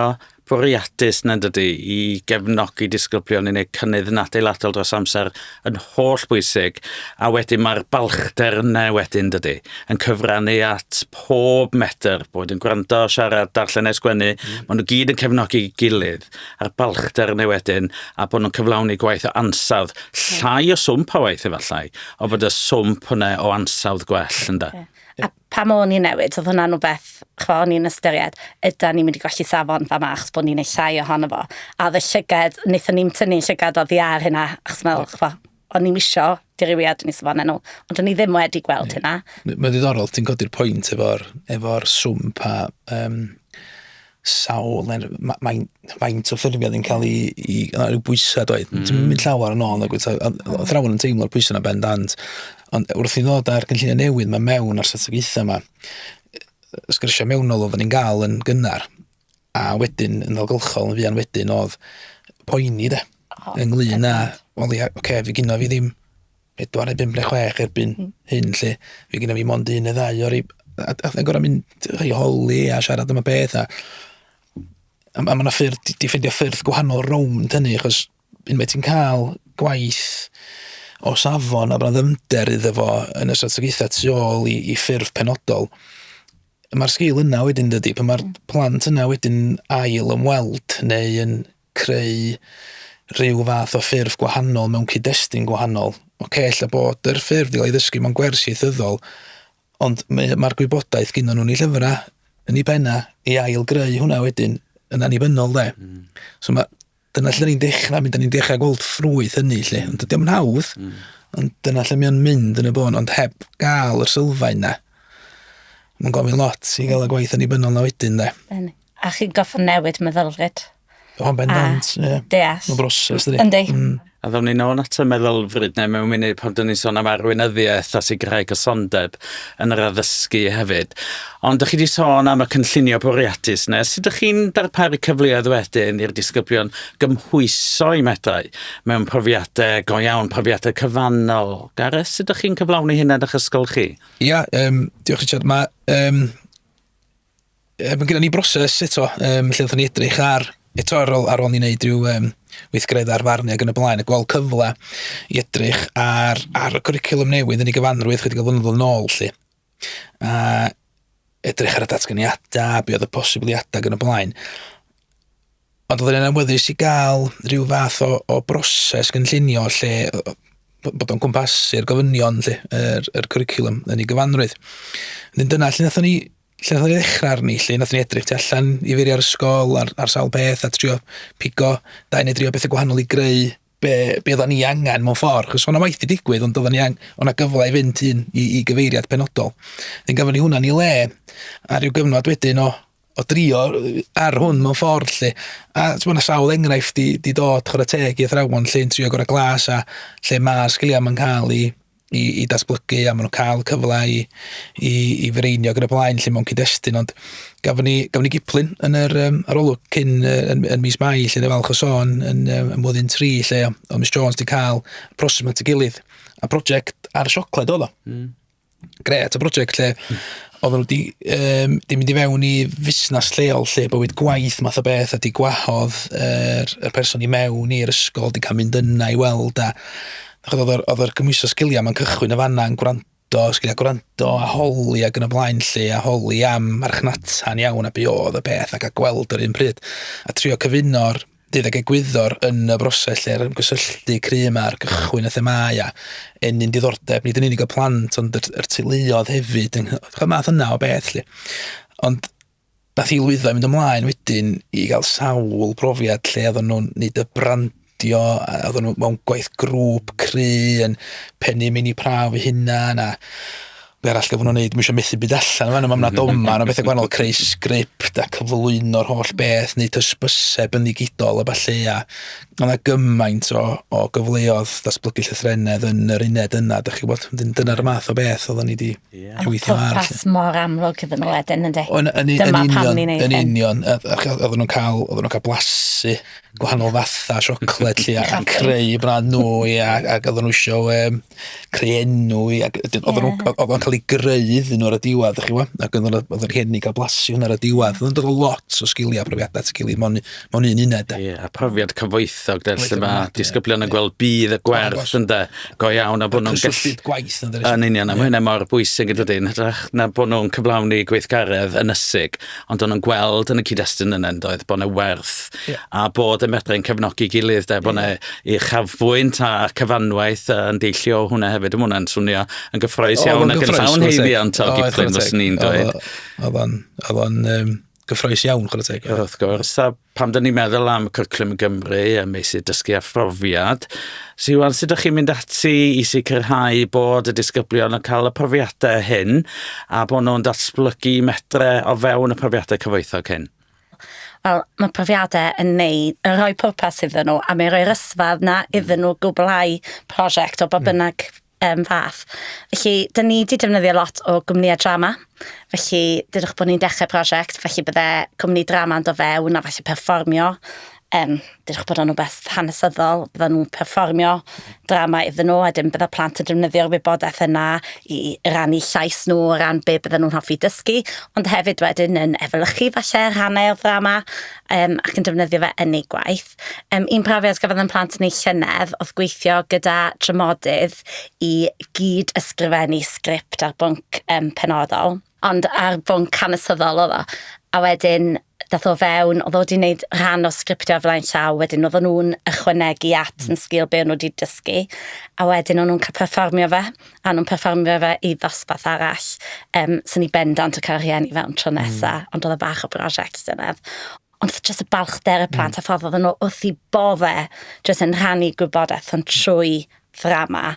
bwriadus na dydy i gefnogi disgyblion i wneud cynnydd yn adeiladol dros amser yn holl bwysig a wedyn mae'r balchder yna wedyn dydy yn cyfrannu at pob metr bod yn gwrando, siarad, darllen neu sgwennu, mm. maen nhw gyd yn cefnogi gilydd. a'r balchder yn ei wedyn, a bod nhw'n cyflawni gwaith o ansawdd, llai o swmp o waith efallai, o bod y swmp hwnna o ansawdd gwell, ynda. Yeah. A pam o'n i'n newid, oedd hwnna'n rhywbeth, chwa, o'n i'n ystyried, yda ni'n mynd i golli safon fa ma, achos bod ni'n ei llai ohono fo. A oedd y llygad, wnaethon ni'n tynnu llygad o ddiar hynna, achos meddwl, chwa, o'n i'm isio dirywiad ni safonau nhw, ond o'n i ddim wedi gweld hynna. Mae'n ddiddorol, ti'n codi'r pwynt efo'r efo swm pa um, sawl, mae'n faint o ffurfio ddim cael ei, i, rhyw bwysau dweud. Mm. Ti'n mynd llawer yn ôl, o thrawn yn teimlo'r pwysau yna bendant. Ond wrth i ddod ar gynllunio newydd, mae mewn ar strategaethau yma, sgyrsiau mewnol oedden ni'n gael yn gynnar. A wedyn, yn ddogylchol, yn fuan wedyn, oedd poeni de, oh, ynglyn â, wel ia, oce, okay, fi gyno fi ddim pedwar neu bimp neu chwech erbyn mm. hyn, lle fi gyno fi mond un neu ddau o'r i... A, a, a gorau mynd rhai holi a siarad am y beth a... A, a mae yna ffyrdd, di ffeindio ffyrdd gwahanol rownd hynny, achos unwaith ti'n cael gwaith o safon a bod 'na ddyfnder iddo fo yn y strategaethau tu ôl i i ffurf penodol, mae'r sgil yna wedyn dydy, pan mae'r plant yna wedyn ail ymweld neu yn creu rhyw fath o ffurf gwahanol mewn cyd-destun gwahanol. Ocê, ella bod yr ffurf 'di cael ei ddysgu mewn gwers ieithyddol, Ond mae yy ma'r gwybodaeth gynnon nhw'n 'u llyfra, yn 'u penna, i ail-greu hwnna wedyn yn annibynnol 'de? Hmm. So ma'... Dyna lle 'dan ni'n dechra mynd, 'dan ni'n dechra gweld ffrwyth hynny 'lly. Ond dydi o'm yn hawdd. Hmm. Ond dyna lle mae o'n mynd yn y bôn, ond heb ga'l yr sylfaen 'na, ma'n gofyn lot i ga'l y gwaith annibynnol 'na wedyn 'de? Yn. A chi'n goffa newid meddylfryd. O, yn bendant, ie. Deall. Mae'n broses, dydy. Yndi. Mm. A ddown ni'n ôl at y meddylfryd neu mewn munud pan dyn ni'n sôn am arweinyddiaeth a sicrhau cysondeb yn yr addysgu hefyd. Ond ydych chi wedi sôn am y cynllunio bwriadus nes sut ydych chi'n darparu cyfleoedd wedyn i'r disgyblion gymhwyso i medrau mewn profiadau go iawn, profiadau cyfannol. Gareth, sut ydych chi'n cyflawni hyn yn eich ysgol chi? Ia, um, diolch Richard. Mae um, Yy ma' gynnon ni broses eto yym lle nathon ni edrych ar eto ar ôl ar ôl ni neud ryw yym weithgaredda ar farn ag yn y blaen a gweld cyfle i edrych ar ar y cwricwlwm newydd yn ei gyfanrwydd chydig o flynyddoedd nôl 'lly a edrych ar y datganiada be' odd y posibiliada ag yn y blaen. Ond oedden ni'n awyddus i gael rhyw fath o, o broses gynllunio lle bod o'n cwmpasu'r gofynion lle, yr, yr cwricwlwm yn ei gyfanrwydd. Nid dyna lle nathon ni lle nathon ni ddechrau arni, lle nathon ni edrych tu allan i feiriau'r ysgol ar, ar sawl peth a trio pigo dau neu dri o bethau gwahanol i greu be, be oedden ni angen mewn ffordd, chos o'na waith i digwydd, ond oedden ni angen, o'na gyfle i fynd un i, i gyfeiriad penodol. Yn gafon ni hwnna'n ei le, a rhyw gyfnod wedyn o, o drio yy ar hwn mewn ffordd 'lly a t'mo' 'na sawl enghraifft 'di 'di dod chwara teg i athrawon 'lly yn trio gora' glas a lle ma' sgilia 'im yn ca'l 'u 'u 'u datblygu a ma' nw'n ca'l cyfla i i i fireinio ag yn y blaen 'lly mewn cyd-destun ond gafon ni gafon ni giplun yn yr yym arolwg cyn yy yn yn mis Mai 'lly o'n falch o sôn yn yym yn flwyddyn tri 'lly o' Miss Jones 'di ca'l proses 'ma at 'i gilydd a project ar y siocled o'dd o. Hmm. Gret, y brosiect lle oedden nhw wedi um, di mynd i fewn i fusnes lleol lle bywyd gwaith math o beth a di gwahodd yr, er, person i mewn i'r ysgol, di cael mynd yna i weld a oedd yr gymwyso sgiliau mae'n cychwyn y fanna yn gwrando, sgiliau gwrando a holi ac yn y blaen lle a holi am marchnata'n iawn a be oedd y peth ac a gweld yr un pryd a trio cyfuno'r Bydd ag egwyddor yn y broses lle'r ymgysylltu cry' yma ar gychwyn y themâu a ennyn diddordeb nid yn unig y plant ond yr, yr teuluodd hefyd yng y math yna o beth lly. Ond dath i lwyddo i mynd ymlaen wedyn i gael sawl profiad lle oedden nhw'n neud y brand adio, a oedden nhw mewn gwaith grŵp cry yn pennu mini prawf eu hunan a be arall gyfnw wneud, dwi eisiau methu byd allan fan yma, yna doma, yna bethau gwahanol, creu sgript a cyflwyno'r holl beth, neu tysbysau byndigidol a falle, a yna gymaint o, o gyfleodd ddatblygu llythrenedd yn yr uned yna, da chi'n gwybod, dyna'r math o beth oedden ni wedi yeah. gweithio ar. Ond popeth mor amlwg iddyn nhw wedyn, ynddi? Dyma pam ni'n ei Yn union, oedden nhw'n cael, oedden nhw'n cael blasu gwahanol fatha siocled lly ac yn creu brand nhw ia ac oedden nhw isio um, creu enw i ac oedden nhw oedden nhw'n cael ei greu iddyn nhw ar y diwedd chi wybod ac oedden nhw'n oedden rhieni cael blasu hwnna ar y diwedd oedden nhw'n lot o sgiliau a profiadau at gilydd mewn mewn un uned e. a profiad cyfoethog de lle mae disgyblion yn gweld bydd y gwerth yn de go iawn a bod nhw'n gallu gwaith yn union a mae hynny mor bwysig yn dydi yn hytrach na bod nhw'n cyflawni gweithgaredd ynysig ond o'n nhw'n gweld yn y cyd-destun yna yndoedd, oedd bod yna werth yeah. a bod y medrau yn cefnogi gilydd, de, bod yna yeah. uchafbwynt a cyfanwaith yn deillio hwnna hefyd. Mae hwnna'n swnio yn gyffroes iawn ac yn llawn heiddiant o gyffroes, fes ni'n dweud. Oedd o'n gyffroes iawn, chwrdd teg. Wrth gwrs, a Pam dyn ni'n meddwl am Cwricwlwm i Gymru a meysydd dysgu a phrofiad, Siwan, sut ydych chi'n mynd ati i sicrhau bod y disgyblion yn cael y profiadau hyn a bod nhw'n datblygu medre o fewn y profiadau cyfoethog hyn? Wel, mae profiadau yn neud, yn rhoi pwrpas iddyn nhw, a mae'n rhoi'r ysfad na iddyn nhw gwblhau prosiect o ba hmm. bynnag um, fath. Felly, dyn ni wedi defnyddio lot o gwmnïau drama. Felly, dydych bod ni'n dechrau prosiect, felly bydde cwmni drama yn do fewn a falle perfformio. Um, dydych bod o'n rhywbeth hanesyddol, bydde nhw'n perfformio drama iddyn nhw, a dim bydde plant yn defnyddio'r wybodaeth yna i rannu llais nhw o ran be bydde nhw'n hoffi dysgu, ond hefyd wedyn yn efelychu falle rhannau o'r drama um, ac yn defnyddio fe yn ei gwaith. peth. Um, un profiad gafodd yn plant ni llynedd oedd gweithio gyda dramodydd i gyd ysgrifennu sgript ar bwnc um, penodol, ond ar bwnc hanesyddol oedd o. A wedyn, dath o fewn, oedd o wedi gwneud rhan o sgriptio flaen llaw, wedyn oedd nhw'n ychwanegu at yn sgil be o'n nhw wedi dysgu, a wedyn o'n nhw'n cael perfformio fe, a nhw'n perfformio fe i ddosbarth arall. Um, so ni bendant o cael rhieni fewn tro nesaf, mm. ond oedd o bach o brosiect dyna. ond jyst y balchder y hmm. plant a ffordd oedden nhw wrth i bodde jyst yn rhannu gwybodaeth ond trwy ddrama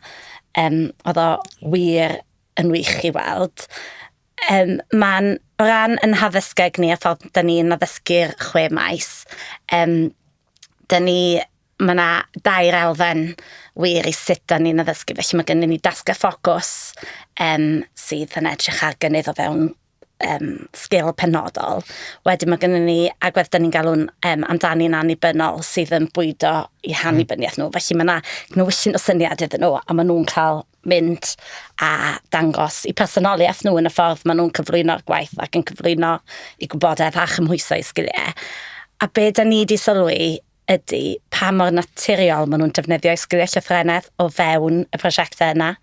um, oedd o wir yn wych i weld. Um, Mae'n ran yn haddysgeg ni a ffordd da ni'n addysgu'r chwe maes. Um, da ni, mae yna dair elfen wir i sut da ni'n addysgu, felly mae gennym ni dasg a ffocws um, sydd yn edrych ar gynnydd o fewn um, sgil penodol. Wedyn mae gennym ni agwedd dyn ni'n galw'n um, amdani'n annibynnol sydd yn bwydo i hannibyniaeth hmm. nhw. Felly mae yna gnewyllyn o syniad iddyn nhw a maen nhw'n cael mynd a dangos i personoliaeth nhw yn y ffordd maen nhw'n cyflwyno'r gwaith ac yn cyflwyno i gwybodaeth a chymhwyso i sgiliau. A be da ni wedi sylwi ydy pa mor naturiol maen nhw'n defnyddio i sgiliau llythrenedd o fewn y prosiectau yna.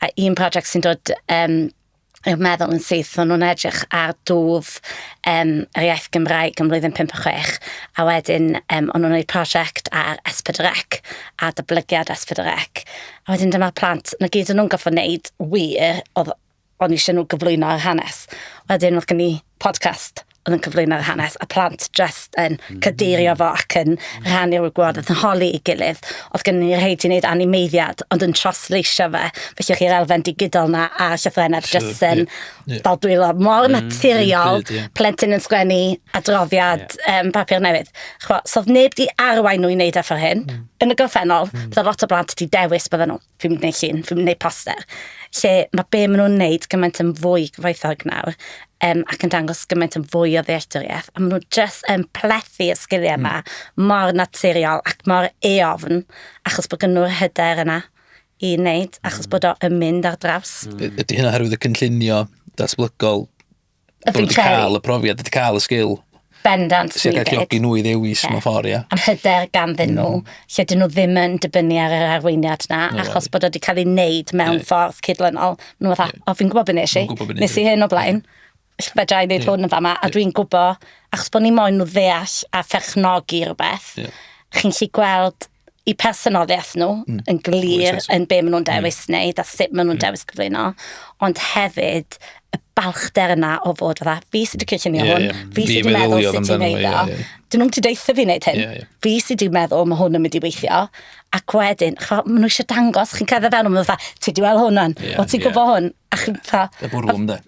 A un prosiect sy'n dod um, i'r meddwl yn syth, o'n nhw'n edrych ar dwf um, yr iaith Gymraeg yn mlwyddyn 5 a 6, a wedyn um, o'n nhw'n gwneud prosiect ar Esbydrec, a dyblygiad Esbydrec. A wedyn dyma'r plant, na gyd o'n nhw'n goffa wneud wir, oedd o'n eisiau nhw gyflwyno ar hanes. Wedyn oedd gen i podcast oedd yn cyflwyno'r hanes a plant just yn mm. cadeirio fo ac yn rhannu'r wybodaeth yn holi i gilydd. Oedd gen ni rhaid i wneud animeiddiad ond yn trosleisio fe. Felly chi'r elfen digidol na a llythrenau sure, just yn yeah, yeah. fel dwylo mor mm, naturiol, yeah. plentyn yn sgwennu adroddiad yeah. um, papur newydd. Chwa, so oedd neb di arwain nhw i wneud efo hyn. Mm. Yn y gorffennol, mm. bydd lot o blant di dewis bydden nhw. fi'n gwneud llun, fi'n gwneud poster, lle mae be maen nhw'n wneud gymaint yn fwy gyfoethog nawr, um, ac yn dangos gymaint yn fwy o ddealltwriaeth, a maen nhw jyst yn plethu y sgiliau yma mm. mor naturiol ac mor eofn, achos bod gen nhw'r hyder yna i wneud, achos mm. bod o yn mynd ar draws. Mm. Ydy hynna herwydd y cynllunio datblygol Bod wedi cael y profiad, wedi cael y sgil. Bendant. Sy'n cael galluogi nhw i ddewis mewn ffordd, ia. Am hyder ganddyn nhw, mm. lle dyn nhw ddim yn dibynnu ar yr arweiniad na, no, achos bod wedi cael ei wneud mewn yeah. ffordd cydlynol. Nhw fatha, yeah. o fi'n gwybod beth nes i, nes i hyn o blaen. Yeah fedra i wneud yeah. hwn yn fama, a dwi'n gwybod, achos bod ni moyn nhw ddeall a pherchnogi rhywbeth, yeah. chi'n lli gweld i personoliaeth nhw mm. yn glir yn be maen nhw'n mm. dewis mm. wneud a sut maen nhw'n mm. dewis cyflwyno, ond hefyd y balchder yna o fod fatha, fi sydd wedi cynllunio yeah, hwn, yeah. fi sydd wedi meddwl sut ti'n neud o. Yeah, yeah. Dyn nhw'n ti deitha fi wneud hyn. Yeah, yeah. Fi sydd wedi meddwl mae hwn yn mynd i weithio. Ac wedyn, chwa, maen nhw eisiau dangos, chi'n cael fewn o'n fatha, ti di weld hwn o'n, yeah, o ti'n yeah. gwybod hwn. A chi'n fatha... Y bwrwm de.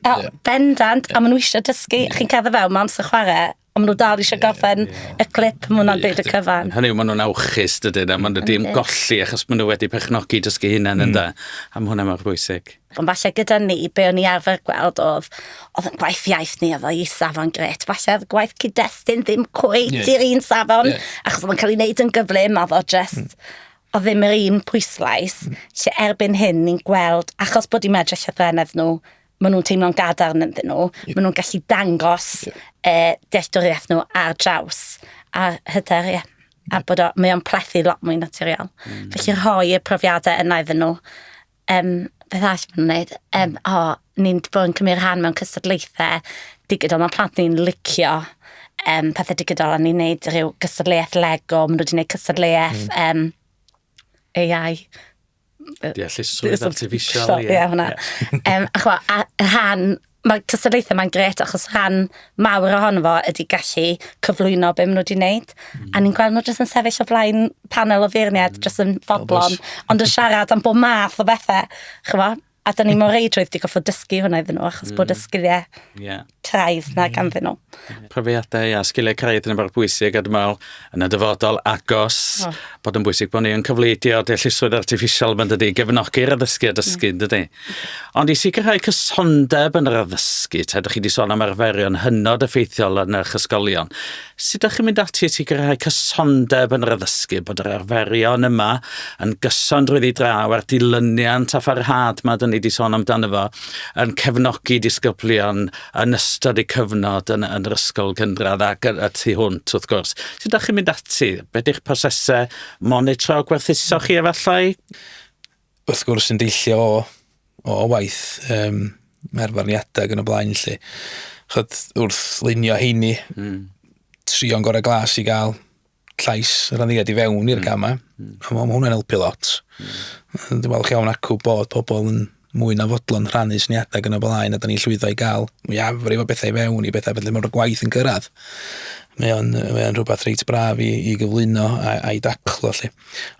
Bendant, a maen nhw eisiau dysgu, yeah. chi'n cael fewn, mae amser chwarae, Ond maen nhw dal eisiau gorffen y clip, maen nhw'n dweud y cyfan. Hynny yw, maen nhw'n awchus, dydyn, a maen nhw wedi ymgolli achos maen nhw wedi pechnogi dysgu hunain yn da. A mae hwnna mor bwysig. Ond falle gyda ni, be o'n i arfer gweld oedd, oedd yn gwaith iaith ni, oedd o'i safon gret. Falle oedd gwaith cyd-destun ddim cweit yeah. i'r un safon, yeah. achos oedd yn cael ei wneud yn gyflym, oedd o just... Mm o ddim yr un pwyslais, lle erbyn hyn ni'n gweld, achos bod i'n medru llythrenedd nhw, maen nhw'n teimlo'n gadarn ynddyn nhw. Yep. Maen nhw'n gallu dangos yep. e, dealltwriaeth nhw ar draws a hyder, ie. Yeah. A yep. bod o, mae o'n plethu lot mwy naturiol. Mm. Felly rhoi y profiadau yna iddyn nhw. Um, beth all maen nhw'n gwneud? Um, o, oh, ni'n bod yn cymryd rhan mewn cystadlaethau digidol. Mae plant ni'n licio um, pethau digidol a ni'n gwneud rhyw cystadleuaeth Lego. Maen nhw wedi gwneud cystadleuaeth mm. um, AI Deallusrwydd artificial, ie. Ie, hwnna. Um, a chwa, a rhan, mae cystadlaethau mae'n gret achos rhan mawr ohono fo ydy gallu cyflwyno be maen nhw wedi wneud. Mm. A ni'n gweld nhw jyst yn sefyll o flaen panel o feirniad, mm. jyst yn fodlon, ond yn siarad am bob math o bethau. Chwa, A da ni mor reidrwydd di goffod dysgu hwnna iddyn nhw, achos mm. bod y mm. sgiliau yeah. craidd na mm. ganddyn nhw. Profiadau a sgiliau craidd yn y bwysig, a dwi'n meddwl, yn y dyfodol agos, oh. bod yn bwysig bod ni yn cyfleidio deallusrwydd artificial mae'n dydy, gefnogi'r addysgu a mm. dysgu, mm. dydy. Ond i sicrhau cysondeb yn yr addysgu, ta ydych chi wedi sôn am arferion hynod effeithiol yn eich ysgolion, Sut ydych chi'n mynd ati i sicrhau cysondeb yn yr addysgu, bod yr arferion yma yn gyson drwyddi draw a'r dilyniant a pharhad mae dyn ni wedi sôn amdano fo yn cefnogi disgyblion yn ystod eu cyfnod yn, yn yr ysgol gynradd ac y tu hwnt wrth gwrs. Sut ydych chi'n mynd ati? Beth yw'ch prosesau monitro gwerthuso chi efallai? wrth gwrs yn deillio o o waith yym ar farniadau ac yn y blaen lle chod wrth lunio heini mm. trio'n gorau glas i gael llais yr aniddiad i fewn i'r mm. gamau mm. a mae hwnna'n helpu lot mm. dwi'n falch iawn acw bod pobl yn mwy na fodlon rhannu syniadau gan y blaen a da ni'n llwyddo i gael mwy afrif o bethau i fewn i bethau felly mae'r gwaith yn gyrraedd mae o'n, mae o'n rhywbeth reit braf i, i gyflwyno a'i daclo lle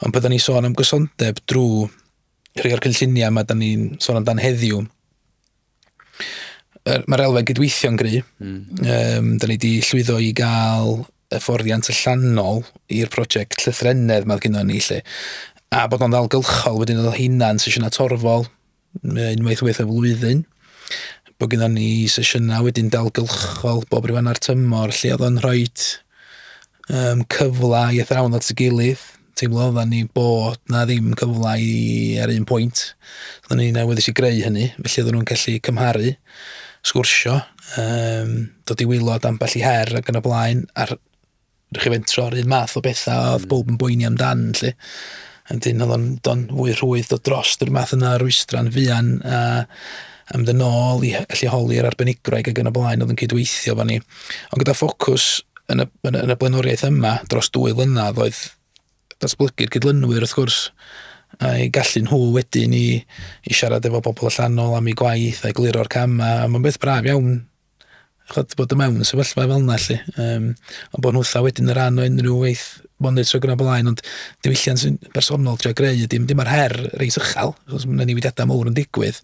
Ond pan 'dan ni'n sôn am gysondeb drwy rhai o'r cynlluniau yma 'dan ni'n sôn amdan heddiw, er, mae'r elfen gydweithio'n gry. Mm. Um, da ni wedi llwyddo i gael y fforddiant allanol i'r prosiect llythrenedd mae gyda ni lle. A bod o'n ddalgylchol wedyn oedd o hunan sesiynau torfol, unwaith waith y flwyddyn bod gyda ni sesiynau wedyn dalgylchol bob rhyw anna'r tymor lle oedd o'n rhoi um, cyfle i athrawon at y gilydd teimlo oedden ni bod na ddim cyfle i ar un pwynt oedden ni'n awyddus i greu hynny felly oedden nhw'n gallu cymharu sgwrsio um, dod i wylod ambell i her ac yn y blaen a'r Rwy'ch chi fentro ar un math o bethau a oedd mm. bob yn boeni amdan, lle. Yn dyn, oedd o'n don fwy rhwydd dod dros yr math yna rwystra'n fuan a am ddyn ôl i allu holi'r arbenigroeg ac yn y blaen oedd yn cydweithio fan ni. Ond gyda ffocws yn y, yn y, yn y blaenoriaeth yma dros dwy flynedd oedd datblygu'r cydlynwyr wrth gwrs a'i gallu nhw wedyn i, i siarad efo bobl allanol am ei gwaith a'i gliro'r camau. Mae'n beth braf iawn chod, bod y mewn sefyllfa fel yna lle. Um, ond bod nhw wrtha wedyn y rhan o unrhyw weith monitro gyda blaen, ond diwylliant sy'n bersonol trio greu, dim, dim ar her reis uchel, achos mae yna newidiadau mawr yn digwydd,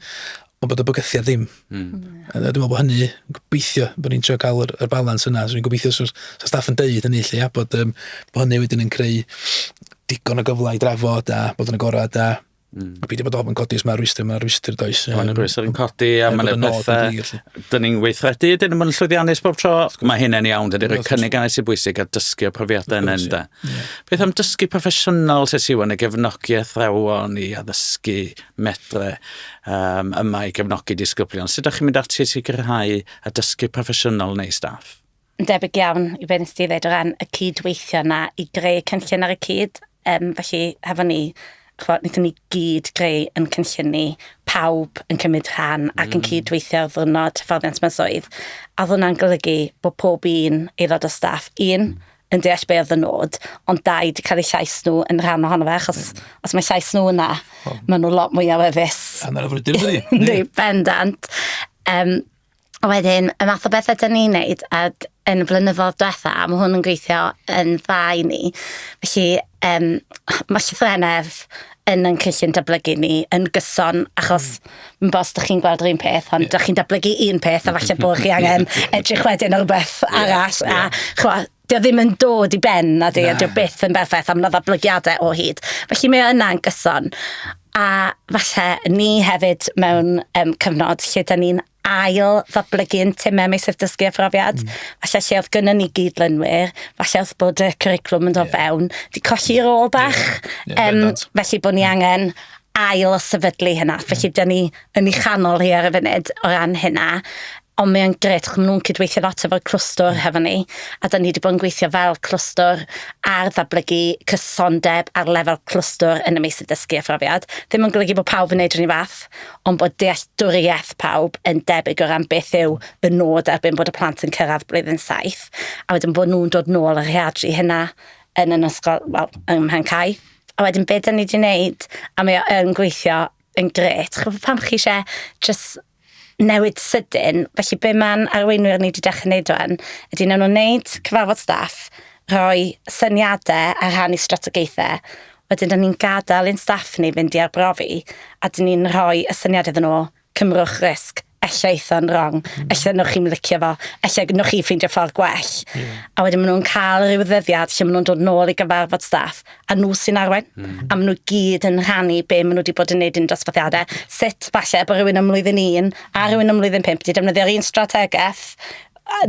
ond bod y bygythiad ddim. Mm. A dwi'n meddwl bod hynny, gobeithio, bod ni'n trio cael yr, yr balans yna. So, gobeithio sy'n so staff yn deud hynny lle, ia, bod, um, bod hynny wedyn yn creu digon o gyfle i drafod a bod yn agored a Mm. A peidio bod ofn codi os mae rhwystyr, mae rhwystyr does. Mae yna rhwystyr yn codi a mae yna pethau. Dyn ni'n weithredu, dyn ni'n mynd llwyddiannus bob tro. Mae hynny'n iawn, dyn ni'n rhoi cynnig anais i bwysig a dysgu o profiadau yn enda. Beth am dysgu proffesiynol sy'n siw yn y gefnogi athrawon i addysgu medre um, yma i gefnogi disgyblion? Sut ydych chi'n mynd ati i sicrhau a dysgu proffesiynol neu staff? Yn debyg iawn i be nes di ddeud o ran y cyd-weithio yna i greu cynllun ar y cyd. Um, felly, hefo ni, chwa, nethon ni gyd greu yn cynllun ni, pawb yn cymryd rhan ac yn mm. cyd-weithio ar ddwrnod hyfforddiant mewn swydd. A ddwna'n golygu bod pob un aelod o staff, un, mm yn deall be oedd y nod, ond dau wedi cael eu llais nhw yn rhan ohono fe, achos mm. os mae llais nhw yna, oh. maen nhw lot mwy awyddus. A mae'n afrydur ydy. Ynddi, bendant. Um, A wedyn, y math o bethau dyn ni'n neud ag yn y blynyddoedd diwetha', a ma' hwn yn gweithio yn dda i ni. Felly, yym, ma' llythrennedd yn ein cynllun datblygu ni yn gyson, achos m- bo's dych chi'n gweld yr un peth, ond dych chi'n datblygu un peth, a falle bod chi angen edrych wedyn ar rwbeth arall, a ch'mo', 'di o ddim yn dod i ben, na di, a 'di o byth yn berffaith, a mae 'na ddatblygiadau o hyd. Felly mae o yna'n gyson. A falle ni hefyd mewn um, cyfnod lle da ni'n ail ddatblygu yn timau meisydd dysgu a phrofiad. Mm. Falle lle oedd gynnu ni gyd lynwyr, falle oedd bod y curriculum yn dod yeah. fewn, di colli rôl bach. Yeah. Yeah, um, felly bod ni angen ail sefydlu hynna. Mm. Felly, dyn ni yn ei chanol hi ar y funud o ran hynna. Ond mae'n gret, chymryd nhw'n cydweithio lot efo'r clwstwr mm. hefo ni, a dyn ni wedi bod yn gweithio fel clwstwr ar ddatblygu cysondeb ar lefel clwstwr yn y meysydd dysgu a phrofiad. Ddim yn golygu bod pawb yn neud rhywun fath, ond bod dealltwriaeth pawb yn debyg o ran beth yw y nod erbyn bod y plant yn cyrraedd blwyddyn saith, a wedyn bod nhw'n dod nôl a rheadru hynna yn yn ysgol, wel, ym Mhencau. A wedyn be' 'dan ni 'di neud a mae o yn gweithio yn grêt ch'mo' pan chi isie jys newid sydyn felly be' ma'n arweinwyr ni 'di dechre neud rŵan ydi newn n'w neud cyfarfod staff rhoi syniade a rhannu strategaethe wedyn 'dan ni'n gadel i'n staff ni fynd i arbrofi a 'dyn ni'n rhoi y syniad iddyn n'w Cymrwch risg, ella eitha'n wrong, mm. ella nwch chi'n licio fo, ella nwch chi ffeindio ffordd gwell. Yeah. A wedyn maen nhw'n cael rhyw ddyddiad lle maen nhw'n dod nôl i gyfarfod staff, a nhw sy'n arwain, mm. a maen nhw gyd yn rhannu be maen nhw wedi bod yn neud yn dosbarthiadau, sut falle bod rhywun ymlwyddyn un a rhywun ymlwyddyn pimp wedi defnyddio'r un strategaeth,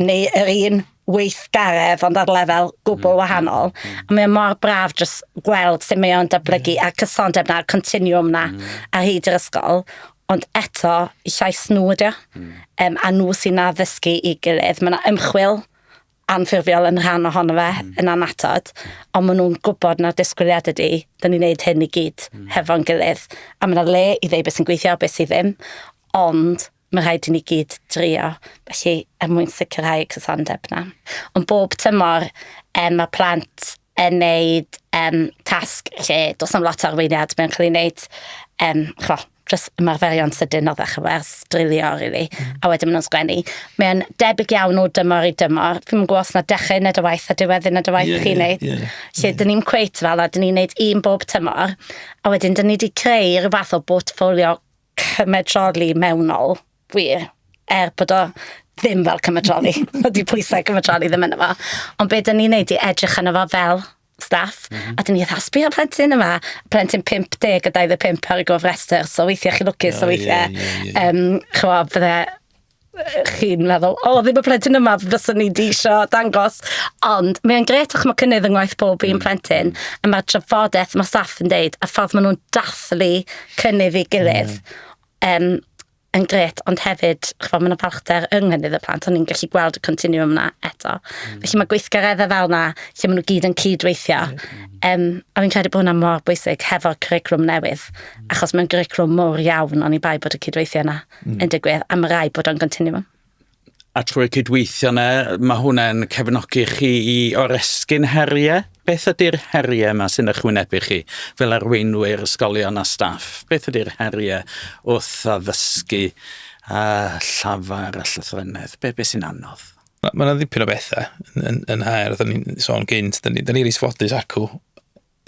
neu yr un weithgaredd ond ar lefel gwbl mm, wahanol. Mm, mm. A mae mor braf jyst gweld sut mae o'n datblygu yeah. a'r cysondeb na'r continuum na mm. ar hyd yr ysgol. Ond eto, llais nhw ydi o. Mm. Um, a nhw sy'n na ddysgu i gilydd. Mae yna ymchwil anffurfiol yn rhan ohono fe mm. yn anatod, ond maen nhw'n gwybod na'r disgwyliad ydy, dyn ni'n neud hyn i gyd mm. hefo'n gilydd. A mae yna le i ddeu beth sy'n gweithio a beth sydd ddim, ond Mae rhaid i ni gyd drio, felly, er mwyn sicrhau y cysondeb yna. Ond bob tymor, um, mae plant yn neud um, tasg lle does am lot o arweiniad, mae'n cael ei wneud, um, chwa, just ymarferion sydyn o ddechrau wers, drilio, really, mm. a wedyn maen nhw'n sgwennu. Mae'n debyg iawn o dymor i dymor. Fi'n gwybod os na dechrau nid y waith a diwedd yn y waith yeah, chi'n neud. Yeah, yeah, lle yeah. dyn ni'n cweit fel a dyn ni'n neud un bob tymor, a wedyn dyn ni wedi creu rhywbeth o portfolio cymedroli mewnol wir, er bod o ddim fel cymedroli. Dydy pwysau cymedroli ddim yn yma. Ond be dyn ni'n neud i edrych yn yma fel staff, mm -hmm. a dyn ni fatha, sbio'r plentyn yma, plentyn 50 a 25 ar y gofrestr, so weithiau chi lwcus, so weithiau, yeah, yeah, yeah. um, chwa, fydde chi'n meddwl, o, ddim y plentyn yma fyswn ni di isio dangos. Ond mae'n gret o'ch mae cynnydd yng ngwaith pob un mm. plentyn, a mae'r trafodaeth mae staff yn deud, a ffordd maen nhw'n dathlu cynnydd i gilydd, um, yn gret, ond hefyd, chfod, mae'n falchder yng nghynydd y plant, ond ni'n gallu gweld y continuum yna eto. Mm. Felly mae gweithgareddau fel yna, lle maen nhw gyd yn cyd-weithio, um, a fi'n credu bod hwnna mor bwysig hefo'r curriculum newydd, mm. achos mae'n curriculum mor iawn, ond i bai bod y cyd-weithio yna. mm. yn digwydd am y rai bod o'n continue a trwy'r cydweithio yna, mae hwnna'n cefnogi chi i oresgyn heriau? Beth ydy'r heriau yma sy'n ychwynebu chi fel arweinwyr ysgolion a staff? Beth ydy'r heriau wrth addysgu a llafar a llythrennedd? Be, be sy'n anodd? Mae yna ddipyn o bethau yn, yn, yn haer, da ni'n sôn gynt, da ni'n ni, ni isfodus acw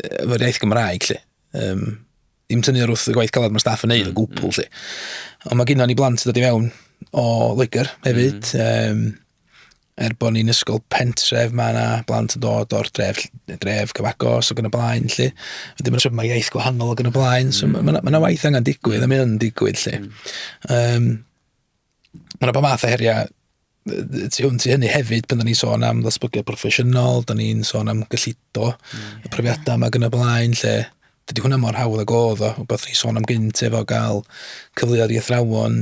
efo'r iaith Gymraeg, lle. Um, Dim tynnu ar wrth y gwaith caled mae staff yn neud o mm, gwbl, mm. lle. Ond mae gynnon ni blant yn dod i mewn o Loegr hefyd. Mm. Um, er bod ni'n ysgol pentref, mae yna blant yn dod o'r dref, dref cyfagos ac yn y blaen, lle. Wedyn mae'n mae iaith gwahanol ac yn y blaen, so mm. mae yna waith angen digwydd, a mae yna'n digwydd, lle. Um, Mae yna bod math o heriau tu hwnt i hynny hefyd, pan da ni'n sôn am ddatblygiad proffesiynol, da ni'n sôn am gyllido, mm. y profiadau yma gyda blaen, lle dydy hwnna mor hawdd ag oedd o, beth ni'n sôn am gynt efo gael cyfleoedd i athrawon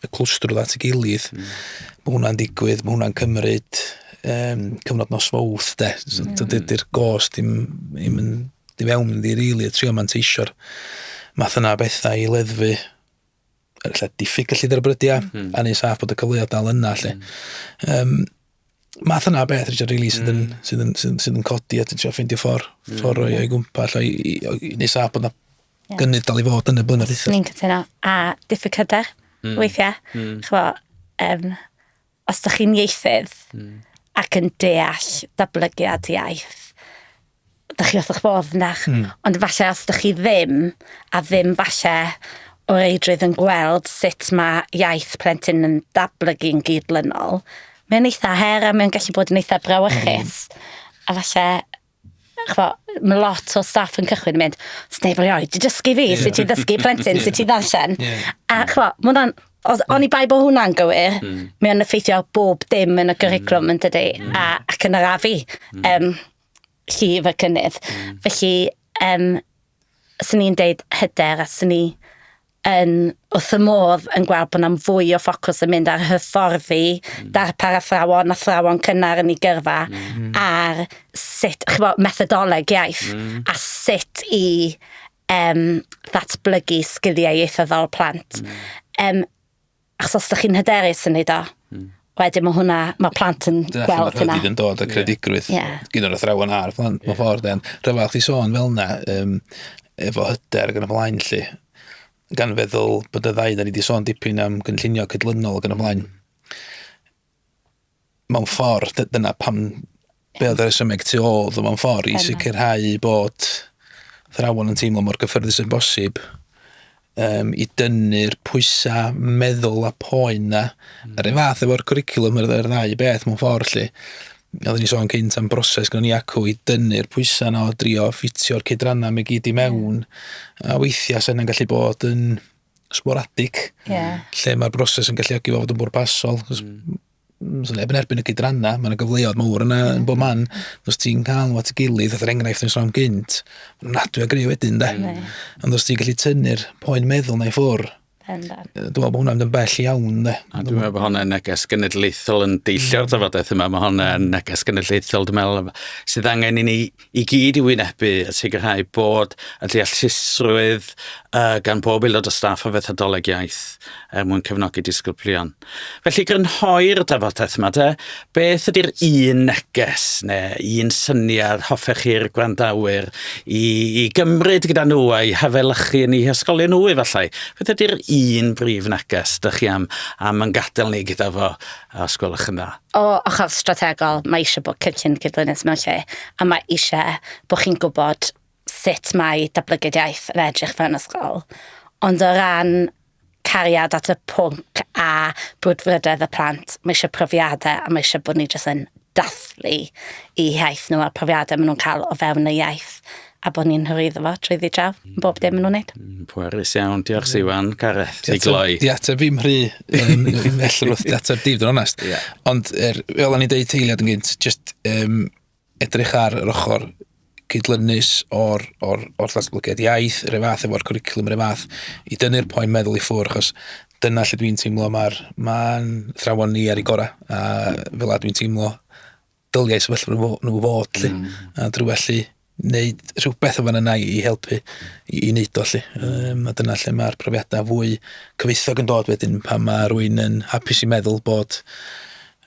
y clwstrwdd at y gilydd. Mm. Mae hwnna'n digwydd, mae hwnna'n cymryd um, cyfnod nos fawth, de. So, mm. Dydy'r gos dim, dim yn di fewn yn di rili, really, trio manteisio'r math yna bethau i leddfu lle diffyg gyllid ar y brydiau, mm -hmm. a ni'n saff bod y cyfleoedd dal yna, lle. Mm -hmm. um, math yna beth, Richard, really, sydd yn, mm. sydd yn, sydd yn, sydd yn codi, a ti'n trio ffeindio ffordd, mm. ffordd o'i, o'i gwmpa, lle, ni'n saff bod yna yeah. gynnydd dal i fod yn y blynyddoedd. Ni'n cytuno, a diffyg cydau, mm. weithiau, mm. chwa, um, os ydych chi'n ieithydd mm. ac yn deall datblygiad iaith, ydych chi wrth eich bodd yna. Mm. Ond falle os ydych chi ddim, a ddim falle o reidrwydd yn gweld sut mae iaith plentyn yn datblygu'n gydlynol, mae'n eitha her a mae'n gallu bod yn eitha brawychus. Mm. A falle ch'bo', ma' lot o staff yn cychwyn yn mynd, neb erioed 'di dysgu fi sut i ddysgu plentyn sut i ddarllen. A ch'mo', ma' wnna'n... Os... Oni bai bo' hwnna'n gywir, hmm. mae o'n effeithio ar bob dim yn y gyricwlwm hmm. dydi? Hmm. A ac yn yr afu hmm. um, llif y cynnydd. Felly, um, swn i'n deud hyder a swn i yn wrth y modd yn gweld bod na'm fwy o ffocws yn mynd ar hyfforddi mm. darpar athrawon, athrawon cynnar yn ei gyrfa, mm. ar sut, chi'n bod, methodoleg iaith, mm. a sut i um, ddatblygu sgiliau ieithyddol plant. Mm. Um, Achos os ydych chi'n hyderus yn neud o, mm. wedyn mae hwnna, mae plant yn Dyna gweld hynna. Dyna yn dod o credigrwydd yeah. yeah. gyda'r athrawon a'r plant, yeah. mae ffordd dden. Rhyfel chi sôn fel yna, um, efo hyder gan y blaen lle, gan feddwl bod y ddau, da ni wedi sôn dipyn am gynllunio cydlynol gan y blaen. mewn ffordd, dyna pam be oedd y rhesymeg tu ôl ddo mewn ffordd, i sicrhau bod thrawon yn teimlo mor gyffyrddus yn bosib um, i dynnu'r pwysau meddwl a poen na. Mm. Yr un fath efo'r cwricwlwm yr, yr ddau beth mewn ffordd lle. Oedden ni sôn cynt am broses gyda ni acw i dynnu'r pwysau na o drio ffitio'r cydrannau mae gyd i mewn. Mm. A weithiau sy'n gallu bod yn sporadig, yeah. lle mae'r broses yn galluogi fod yn bwrpasol. Mm. Os neb yn erbyn y gydrannau, mae'n gyfleoedd mawr yna yn bob man. Mm. Os ti'n cael nhw at y gilydd, oedd yr enghraifft yn sôn gynt, mae'n nadwy o greu wedyn, da. Mm. Ond os ti'n gallu tynnu'r poen meddwl na i ffwrdd, Dwi'n meddwl bod hwnna'n yn bell iawn, de. A dwi'n meddwl bod hwnna'n neges genedlaethol yn deillio'r ddyfodaeth yma. Mae hwnna'n neges genedlaethol, dwi'n meddwl, sydd angen i ni i gyd i wynebu a sicrhau bod y deallusrwydd uh, gan bob aelod o staff o fethodoleg iaith er mwyn cefnogi disgyblion. Felly grynhoi'r drafodaeth yma de, beth ydy'r un neges neu un syniad hoffech chi'r gwrandawyr i, i gymryd gyda nhw a'i hafelychu yn ei hysgolion nhw efallai? Beth ydy'r un brif neges dych chi am, am yn gadael ni gyda fo os gwelwch yn dda? O ochr strategol, mae eisiau bod cynllun cydlynus mewn lle, a mae eisiau bod chi'n gwybod sut mae datblygiad iaith yn edrych fewn ysgol. Ond o ran cariad at y pwnc a brwdfrydedd y plant, mae eisiau profiadau a mae eisiau bod ni jyst yn dathlu i iaith nhw a'r profiadau maen nhw'n cael o fewn y iaith. a bod ni'n hyrwyddo fo trwy ddi draw, yn bob dim yn nhw'n neud. Mm, pwerus iawn, diolch mm. Siwan, Gareth, ti gloi. Di ateb fi'n rhy, um, felly wrth di ateb dif, dwi'n onest. Yeah. Ond, er, fel o'n i'n deud teiliad yn gynt, just um, edrych ar yr ochr cydlynus o'r, or, or ddatblygiad iaith, yr efath efo'r cwricwlwm, yr efath, i dynnu'r poen meddwl i ffwr, achos dyna lle dwi'n teimlo mae'r ma thrawon ni ar ei gorau, a fel a dwi'n teimlo dyliau sefyllfa nhw, nhw fod lle. Mm. A drwy allu wneud rhywbeth o fan yna i helpu i, i wneud o lle. Um, a dyna lle mae'r profiadau fwy cyfoethog yn dod wedyn pan mae rwy'n yn hapus i meddwl bod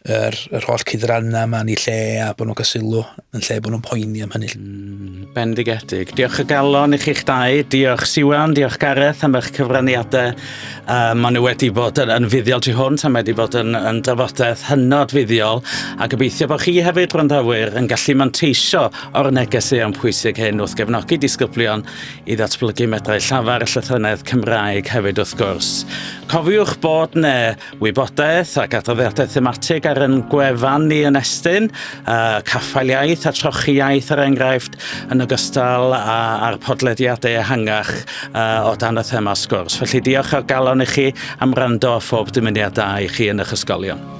yr, yr holl cydrannau yma yn ei lle a bod nhw'n cael yn lle bod nhw'n poeni am hynny. Mm, bendigedig. Diolch o galon i chi'ch dau. Diolch Siwan, diolch Gareth am eich cyfraniadau Yy ma' nw wedi bod yn yn fuddiol tu hwnt a mae 'di bod yn yn drafodaeth hynod fuddiol a gobeithio bo' chi hefyd gwrandawyr yn gallu manteisio o'r neges eang pwysig hyn wrth gefnogi disgyblion i ddatblygu medrau llafar y llythrennedd Cymraeg hefyd wrth gwrs. Cofiwch bod 'ne Wybodaeth ac adroddiadau thematig ar yn gwefan ni yn estyn, uh, caffael iaith a trochi iaith ar er enghraifft, yn ogystal a, a'r podlediadau ehangach uh, o dan y thema sgwrs. Felly diolch o'r galon i chi am rando a phob dymuniad da i chi yn eich ysgolion.